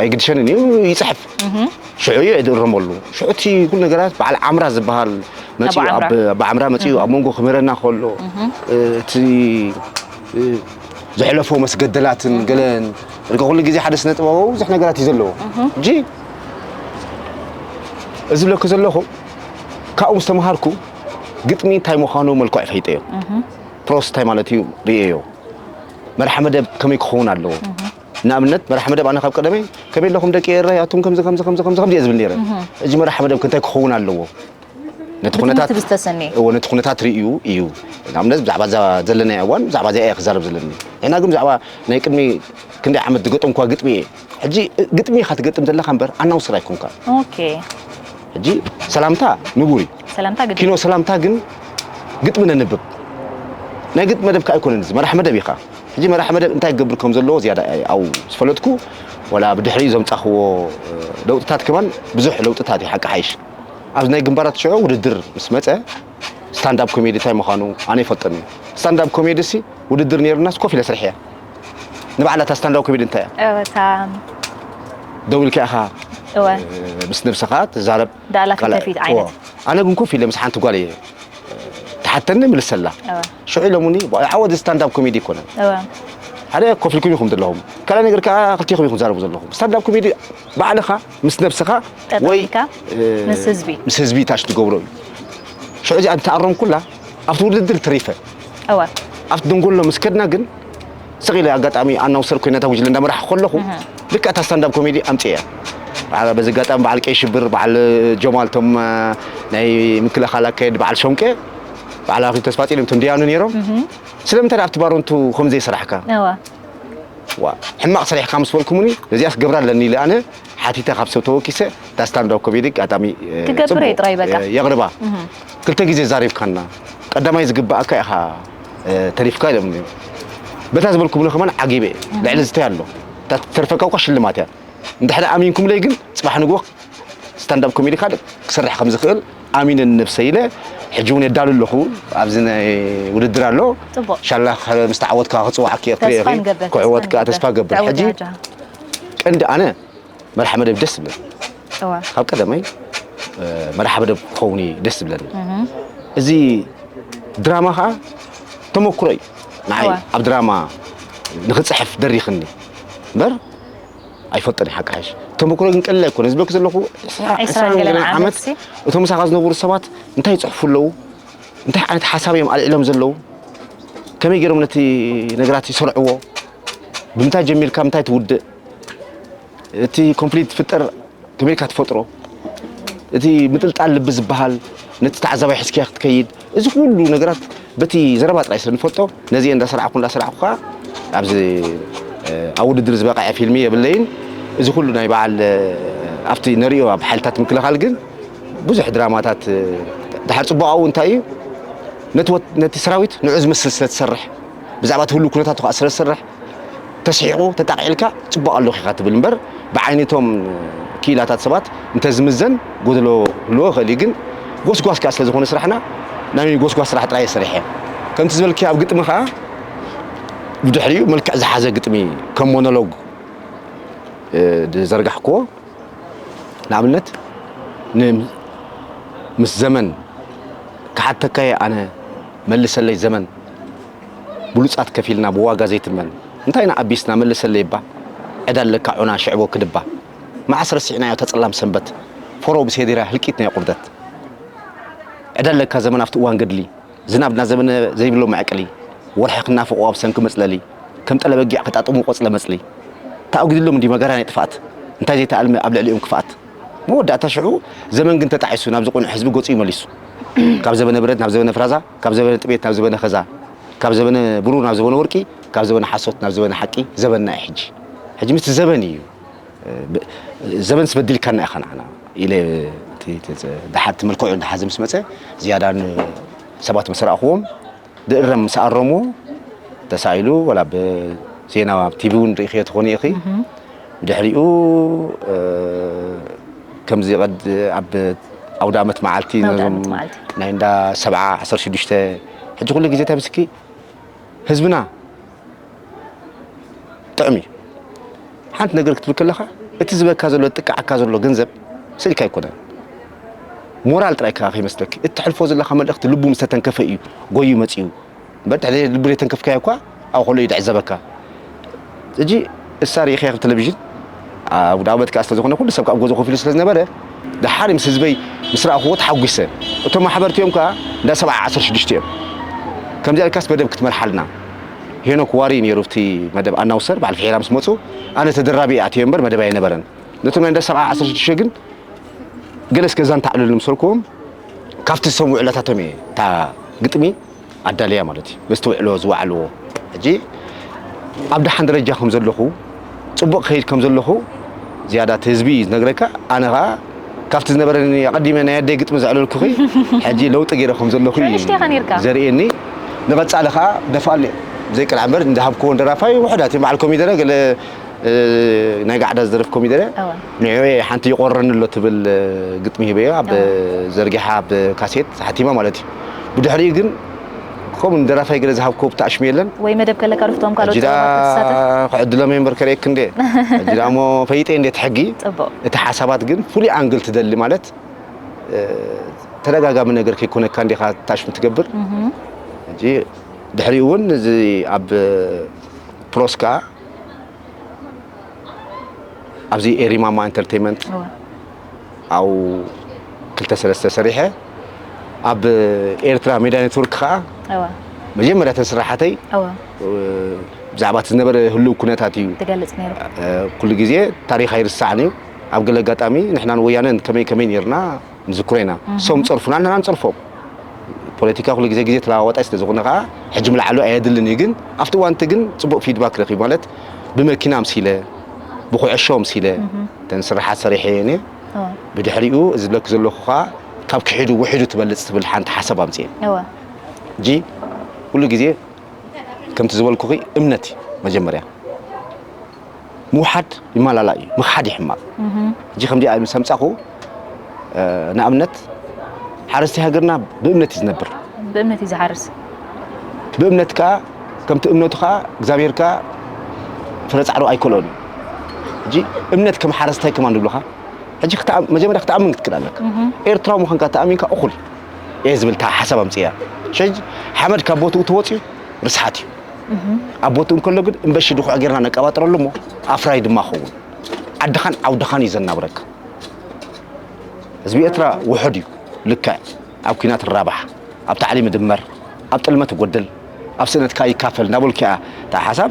ኣይግድሸንን እዩ ይፅሕፍ ሽዑ እዩ እድረመሉ ሽዑ እቲ ኩሉ ነገራት በዓል ዓምራ ዝበሃል መፅኡ ብዓምራ መፅኡ ኣብ መንጎ ክምህረና ከሎ እቲ ዘሕለፎ መስገደላትን ገለን ርገ ኩሉ ግዜ ሓደ ስነ ጥበባዊ ብዙሕ ነገራት እዩ ዘለዎ እጂ እዚ ብለኩ ዘለኹ ካብኡ ምስ ተምሃርኩ ግጥሚ እንታይ ምዃኑ መልክዑ ፈይጠዮ ፕሮስ እንታይ ማለት እዩ ርእየዮ መርሓ መደብ ከመይ ክኸውን ኣለዎ ንኣብነት መራሒ መደብ ኣነ ካብ ቀደመይ ከመይ ኣለኹም ደቂ ኤረይ ኣቱም ከምዚ ከምዚ ከምዚ ከምዚ ከምዚ እየ ዝብል ነይረ ሕጂ መራሒ መደብ እንታይ ክኸውን ኣለዎ ነቲ ኩነታት እዎ ነቲ ኩነታት ርእዩ እዩ ንኣብነት ብዛዕባ እዛ ዘለናዮ እዋን ብዛዕባ እዚኣ እየ ክዛረብ ዘለኒ ሕና ግን ብዛዕባ ናይ ቅድሚ ክንደይ ዓመት ዝገጠምኳ ግጥሚ እየ ሕጂ ግጥሚ ኢኻ ትገጥም ዘለኻ እምበር ኣናውስር ኣይኮንካ ሕጂ ሰላምታ ንቡር እዩ ኪኖ ሰላምታ ግን ግጥሚ ነንብብ ናይ ግጥሚ መደብ ከዓ ኣይኮነን እዚ መራሕ መደብ ኢኻ ሕጂ መራሒ መደብ እንታይ ክገብር ከም ዘለዎ ዝያዳ እየ ኣብ ዝፈለጥኩ፣ ዋላ ብድሕሪኡ ዘምጻኽዎ ለውጥታት ከማን ብዙሕ ለውጥታት እዩ ሓቂ ሓይሽ። ኣብዚ ናይ ግንባራት ሽዑ ውድድር ምስ መጸ ስታንድ ኣፕ ኮሜዲ እንታይ ምዃኑ ኣነ ይፈልጦን እየ። ስታንድ ኣፕ ኮሜዲሲ ውድድር ነይሩናስ ኮፍ ኢለ ስርሐያ። ንባዕላ እታ ስታንድ ኣፕ ኮሜዲ እንታይ እያ? እወ እታ ደው ኢልካ ኢኻ ምስ ነብስኻ ትዛረብ። ዳላ ፊት ንፊት ቃላ- ዓይነት እዎ። ኣነ ግን ኮፍ ኢለ ምስ ሓንቲ ጓል እየ ትሓተኒ ምልሰላ እወ። ሽዑ ኢሎሙኒ "ዋ፣ ይሓወ እዚ ስታንዳብ ኮሜዲ ኣይኮነን እወ ሓደ ኮፍ ኢልኩም ኢኹም ዘለኹም ካልኣይ ነገር ከዓ ክልቴኹም ኢኹም ትዛረቡ ዘለኹም ስታንዳብ ኮሜዲ ባዕልኻ ምስ ነብስኻ ጠጠው ወይ ኢልካ እ፣ ምስ ህዝቢ። ምስ ህዝቢ ታሽ ትገብሮ እዩ ሽዑ እዚኣ እንተኣረምኩላ ኣብቲ ውድድር ተሪፈ እወ ኣብቲ ደንጎሎ ምስ ከድና ግን ስቕ ኢለ ኣጋጣሚ ኣናውሰር ኮይነ ነታ ጉጅለ እንዳመራሕኩ ከለኹ ልክዕ እታ ስታንዳብ ኮሜዲ ኣምፂኤያ በዚ ኣጋጣሚ በዓል ቀይ ሽብር በዓል ጀማል እቶም ናይ ምክልኻል ኣካየድ በዓል ሾንቄ በዓል ኣክሊሉ ተስፋፅዮን እቶም ድያኑ ነይሮም ስለምንታይ ኣብቲ ባሮንቱ ከም ዘይሰራሕካ ዋ ሕማቕ ሰሪሕካ ምስ በልኩምኒ ነዚኣስ ገብራ ኣለኒ ኢለ ኣነ ሓቲተ ካብ ሰብ ተወኪሰ እታ ስታንዳብ ኮሜዲ ኣጋጣሚ ትገብረ ጥራይ በቃ የቕርባ ክልተ ግዜ ዛሪብካና ቀዳማይ ዝግባኣካ ኢኻ ተሪፍካ ኢሎምኒ በታ ዝበልኩምኒ ከማን ዓጊበ እየ ልዕሊ ዝታይ ኣሎ እታ ትተርፈካ እኳ ሽልማት እያ እንድሕሪ ኣሚንኩምለይ ግን ፅባሕ ንግሆ ስታንዳፕ ኮሜዲ ካልእ ክሰርሕ ከም ዝኽእል ኣሚነ ንነብሰ ኢለ ሕጂ እውን የዳሉ ኣለኹ ኣብዚ ናይ ውድድር ኣሎ ሻላ ምስ ተዓወትካ ክፅዋዓኪ እየ ክዕወት ከዓ ተስፋ ገብር ሕጂ ቀንዲ ኣነ መርሓ መደብ ደስ ዝብለኒ እወ ካብ ቀደመይ እ፣ መርሓ መደብ ክኸውን እዩ ደስ ዝብለኒ እዚ ድራማ ከዓ ተመክሮ እዩ ንዓይ እወ። ኣብ ድራማ ንክፅሕፍ ደሪኽኒ እምበር ኣይፈልጥን እየ ሓቂ ሓሽ ተመክሮ ግን ቀሊል ኣይኮነ ዝበክ ዘለኹ ዕስራ- ዕስራን ዕስራን ገለን ገለን ዓመት ዓመት ሲ። እቶም ምሳኻ ዝነበሩ ሰባት እንታይ ይፅሕፉ ኣለዉ እንታይ ዓይነት ሓሳብ እዮም ኣልዒሎም ዘለዉ ከመይ ገይሮም ነቲ ነገራት ይሰርዕዎ ብምንታይ ጀሚርካ ምንታይ ትውድእ እቲ ኮንፍሊክት ፍጠር ከመይካ ትፈጥሮ እቲ ምጥልጣል ልቢ ዝበሃል ነቲ ተዓዛባይ ሕዝክያ ክትከይድ እዚ ኩሉ ነገራት በቲ ዘረባ ጥራይ ስለ ንፈልጦ ነዚ እንዳሰራዕኩ እንዳሰራዕኩ ከዓ ኣብዚ ኣብ ውድድር ዝበቕዐ ፊልሚ የብለይን እዚ ኩሉ ናይ በዓል ኣብቲ ነሪኦ ኣብ ሓይልታት ምክልኻል ግን ብዙሕ ድራማታት ድሓር ፅቡቃኡ እንታይ እዩ ነቲ ሰራዊት ንዑ ዝመስል ስለ ትሰርሕ ብዛዕባ እቲ ህሉ ኩነታቱ ከዓ ስለ ዝሰርሕ ተስሒቑ ተጣቒዕልካ ጽቡቕ ኣሎኪ ኢኻ ትብል እምበር ብዓይኒ እቶም ክኢላታት ሰባት እንተ ዝምዘን ጎደሎ ክህልዎ ይኽእል እዩ ግን ጎስጓስ ከኣ ስለ ዝኾነ ስራሕና ናይ ጎስጓስ ስራሕ ጥራይ እየ ሰሪሐ ከምቲ ዝበልክዮ ኣብ ግጥሚ ከኣ ብድሕሪኡ መልክዕ ዝሓዘ ግጥሚ ከም ሞኖሎግ ዝዘርጋሕክዎ ንኣብነት ምስ ዘመን ክሓተካየ ኣነ መልሰለይ ዘመን ብሉጻት ከፊልና ብዋጋ ዘይትመን እንታይ ኢና ኣቢስና መልሰለይ እባ ዕዳ ኣለካ ዑና ሽዕቦ ክድባ መዓስ ረሲዕናዮ እታ ጸላም ሰንበት ፎሮ ምስ ሄዲራ ህልቂት ናይ ቁርደት ዕዳ ኣለካ ዘመን ኣብቲ እዋን ገድሊ ዝናብ እናዘመነ ዘይብሎ መዕቅሊ ወርሒ ክናፍቆ ኣብ ሰንኪ መጽለሊ ከም ጠለ በጊዕ ከጣጥሙ ቆጽለ መጽሊ ተኣጒድሎም እንዲ መጋርያ ናይ ጥፍኣት እንታይ ዘይተኣልመ ኣብ ልዕሊኦም ክፍኣት መወዳእታ ሽዑ ዘመን ግን ተጣዒሱ ናብዚ ቁኑዕ ህዝቢ ገጹ ይመሊሱ ካብ ዘበነ ብረት ናብ ዘበነ ፍራዛ ካብ ዘበነ ጥሜት ናብ ዘበነ ከዛ፣ ካብ ዘበነ ብሩር ናብ ዘበነ ወርቂ፣ ካብ ዘበነ ሓሶት ናብ ዘበነ ሓቂ ዘበንና እዩ ሕጂ። ሕጂ ምስቲ ዘበን እዩ። ዘበንስ በዲልካና ኢኻ ንዓና ኢለ ደሓር እቲ መልክዑ እንዳሓዘ ምስ መጸ ዝያዳ ሰባት ምስ ረኣኹዎም ድእረም ምስ ኣረምዎ ተሳኢሉ ወላ ብ ዜና ኣብ ቲቪ እውን ርኢኽዮ ትኾኒ ኢኺ ድሕሪኡ ከምዚ ቀድ ኣብ ኣውዳመት መዓልቲ ናይ እንዳ ሰብዓ ዓሰርተ ሽዱሽተ ሕጂ ኩሉ ግዜ እንታይ ምስኪ ህዝብና ጥዕም እዩ ሓንቲ ነገር ክትብል ከለኻ እቲ ዝበካ ዘሎ ጥቅዓካ ዘሎ ገንዘብ ስእልካ ኣይኮነን ሞራል ጥራይ ከይመስለኪ እትሕልፎ ዘለካ መልእኽቲ ልቡ ምስተተንከፈ እዩ ጎዩ መፅኡ እምበር ትሕቲ ዘይት ልቢ ዘይተንከፍካዮ እኳ ኣብ ከሎ እዩ ድዕዘበካ እጂ እሳ ርኢኸያ ክብ ተለቪዥን ኣውዳመት ከኣ ስለ ዝኾነ ኩሉ ሰብ ከኣ ጎዞ ኮፍ ኢሉ ስለ ዝነበረ ደሓር ምስ ህዝበይ ምስ ረኣኹዎ ተሓጒሰ እቶም ማሕበርቲ እዮም ከኣ እንዳ ሰብዓ ዓሰርተ ሽዱሽተ እዮም ከምዚኣ ኢልካስ መደብ ክትመርሓልና ሄኖክ ዋሪ ነይሩ እቲ መደብ ኣናውሰር በዓል ፍሒራ ምስ መፁ ኣነ ተደራቢ እየ ኣትዮ እምበር መደብ ኣይነበረን ነቶም ናይ እንዳ ሰብዓ ዓሰርተ ሽዱሽተ ግን ገለ እስከ ዛንታ ኣዕልሉ ምሰልኩዎም ካብቲ ዝሰምዑ ዕለታቶም እየ እታ ግጥሚ ኣዳልያ ማለት እዩ በዝተውዕሎ ዝወዓልዎ ሕጂ ኣብ ደሓን ደረጃ ከም ዘለኹ ጽቡቕ ክኸይድ ከም ዘለኹ ዝያዳ እቲ ህዝቢ እዩ ዝነግረካ ኣነ ከኣ ካብቲ ዝነበረኒ ኣቐዲመ ናይ ኣደይ ግጥሚ ዘዕለልኩኺ ሕጂ ለውጢ ገይረ ከም ዘለኹ እዩ ንእሽተይ ከ ነይርካ ዘርእየኒ ንቐጻሊ ከኣ ደፋኣሉ እየ ዘይቅልዓ እምበር እንዳሃብክዎን ደራፋይ ውሑዳት እዮም በዓል ኮሚደረ ገለ ናይ ጋዕዳ ዝደርፍ ኮሚደረ እወ ንዕኡ እየ ሓንቲ ይቖርረኒ ኣሎ ትብል ግጥሚ ሂበዮ ኣብ እወ ዘርጊሓ ኣብ ካሴት ሓቲማ ማለት እዩ ብድሕሪኡ ግን ከምኡ ንደራፋይ ገለ ዝሃብክዎ ብታሽሙ የለን ወይ መደብ ከለካ ዶፍቶም ካልኦት ሕጂ ጸወታት ደኣ ክትሳተፍ ክዕድሎም እየ እምበር ከርእየኪ እንዴ ሕጂ ደኣ እሞ ፈይጠ እንዴ እቲ ሕጊ ጽቡቕ እቲ ሓሳባት ግን ፍሉይ ኣንግል ትደሊ ማለት እ፣ ተደጋጋሚ ነገር ከይኮነካ እንዴኻ ታሽሙ ትገብር ሕጂ ድሕሪኡ እውን እዚ ኣብ ፕሮስ ከኣ ኣብዚ ኤሪማማ ኢንተርቴንመንት ኣብ ክልተ ሰለስተ ሰሪሐ ኣብ ኤርትራ ሜድያ ኔትወርክ ከዓ መጀመርያ ተን ስራሓተይ ብዛዕባ እቲ ዝነበረ ህልው ኩነታት እዩ ትገልጽ ነይሩ ኩሉ ግዜ ታሪኽ ኣይርሳዕን እዩ ኣብ ገለ ኣጋጣሚ ንሕናን ወያነን ከመይ ከመይ ነርና ንዝክሮ ኢና ሶም ጸርፉና ንሕና ንጸርፎም ፖለቲካ ኩሉ ግዜ ግዜ ተለዋዋጣይ ስለ ዝኾነ ከዓ ሕጂ ምልዓሉ ኣየድልን እዩ ግን ኣብቲ እዋንቲ ግን ፅቡቅ ፊድባክ ረኪቡ ማለት ብመኪና ኣምሲለ ብኩዕሾ ኣምሲለ ተን ስራሓት ሰሪሐ እየን እየ ብድሕሪኡ እዚ ዝብለኪ ዘለኹ ከዓ ካብ ክሒዱ ውሒዱ ትበልፅ ትብል ሓንቲ ሓሳብ ኣምፅኤ እጂ ኩሉ ግዜ ከምቲ ዝበልኩኺ እምነት እዩ መጀመርያ ምውሓድ ይመላላእ እዩ ምኽሓድ እዩ ሕማቕ እጂ ከምዚኣ ምስ ኣምጻኹ ንኣብነት ሓረስቲ ሃገርና ብእምነት እዩ ዝነብር ብእምነት እዩ ዝሓርስ ብእምነት ከዓ ከምቲ እምነቱ ከዓ እግዚኣብሔር ከዓ ፍረ ጻዕሩ ኣይከልኦን እዩ እጂ እምነት ከም ሓረስታይ ከማን ንብልኻ ሕጂ መጀመርያ ክትኣምን ክትክእል ኣለካ ኤርትራዊ ምዃንካ ተኣሚንካ እኹል እየ ዝብል ሓሳብ ኣምፅያ ሸ ሓመድ ካብ ቦትኡ ተወፅዩ ርስሓት እዩ ኣብ ቦትኡ እንከሎ ግን እምበሺ ድኹዕ ጌርና ነቀባጥረሉ እሞ ኣፍራይ ድማ ኸውን ዓድኻን ዓውድኻን እዩ ዘናብረካ ህዝቢ ኤርትራ ውሑድ እዩ ልክዕ ኣብ ኩናት ራባሕ ኣብ ታዕሊም ድመር ኣብ ጥልመት ጎድል ኣብ ስእነትካ ይካፈል እናበልኩ እያ እታ ሓሳብ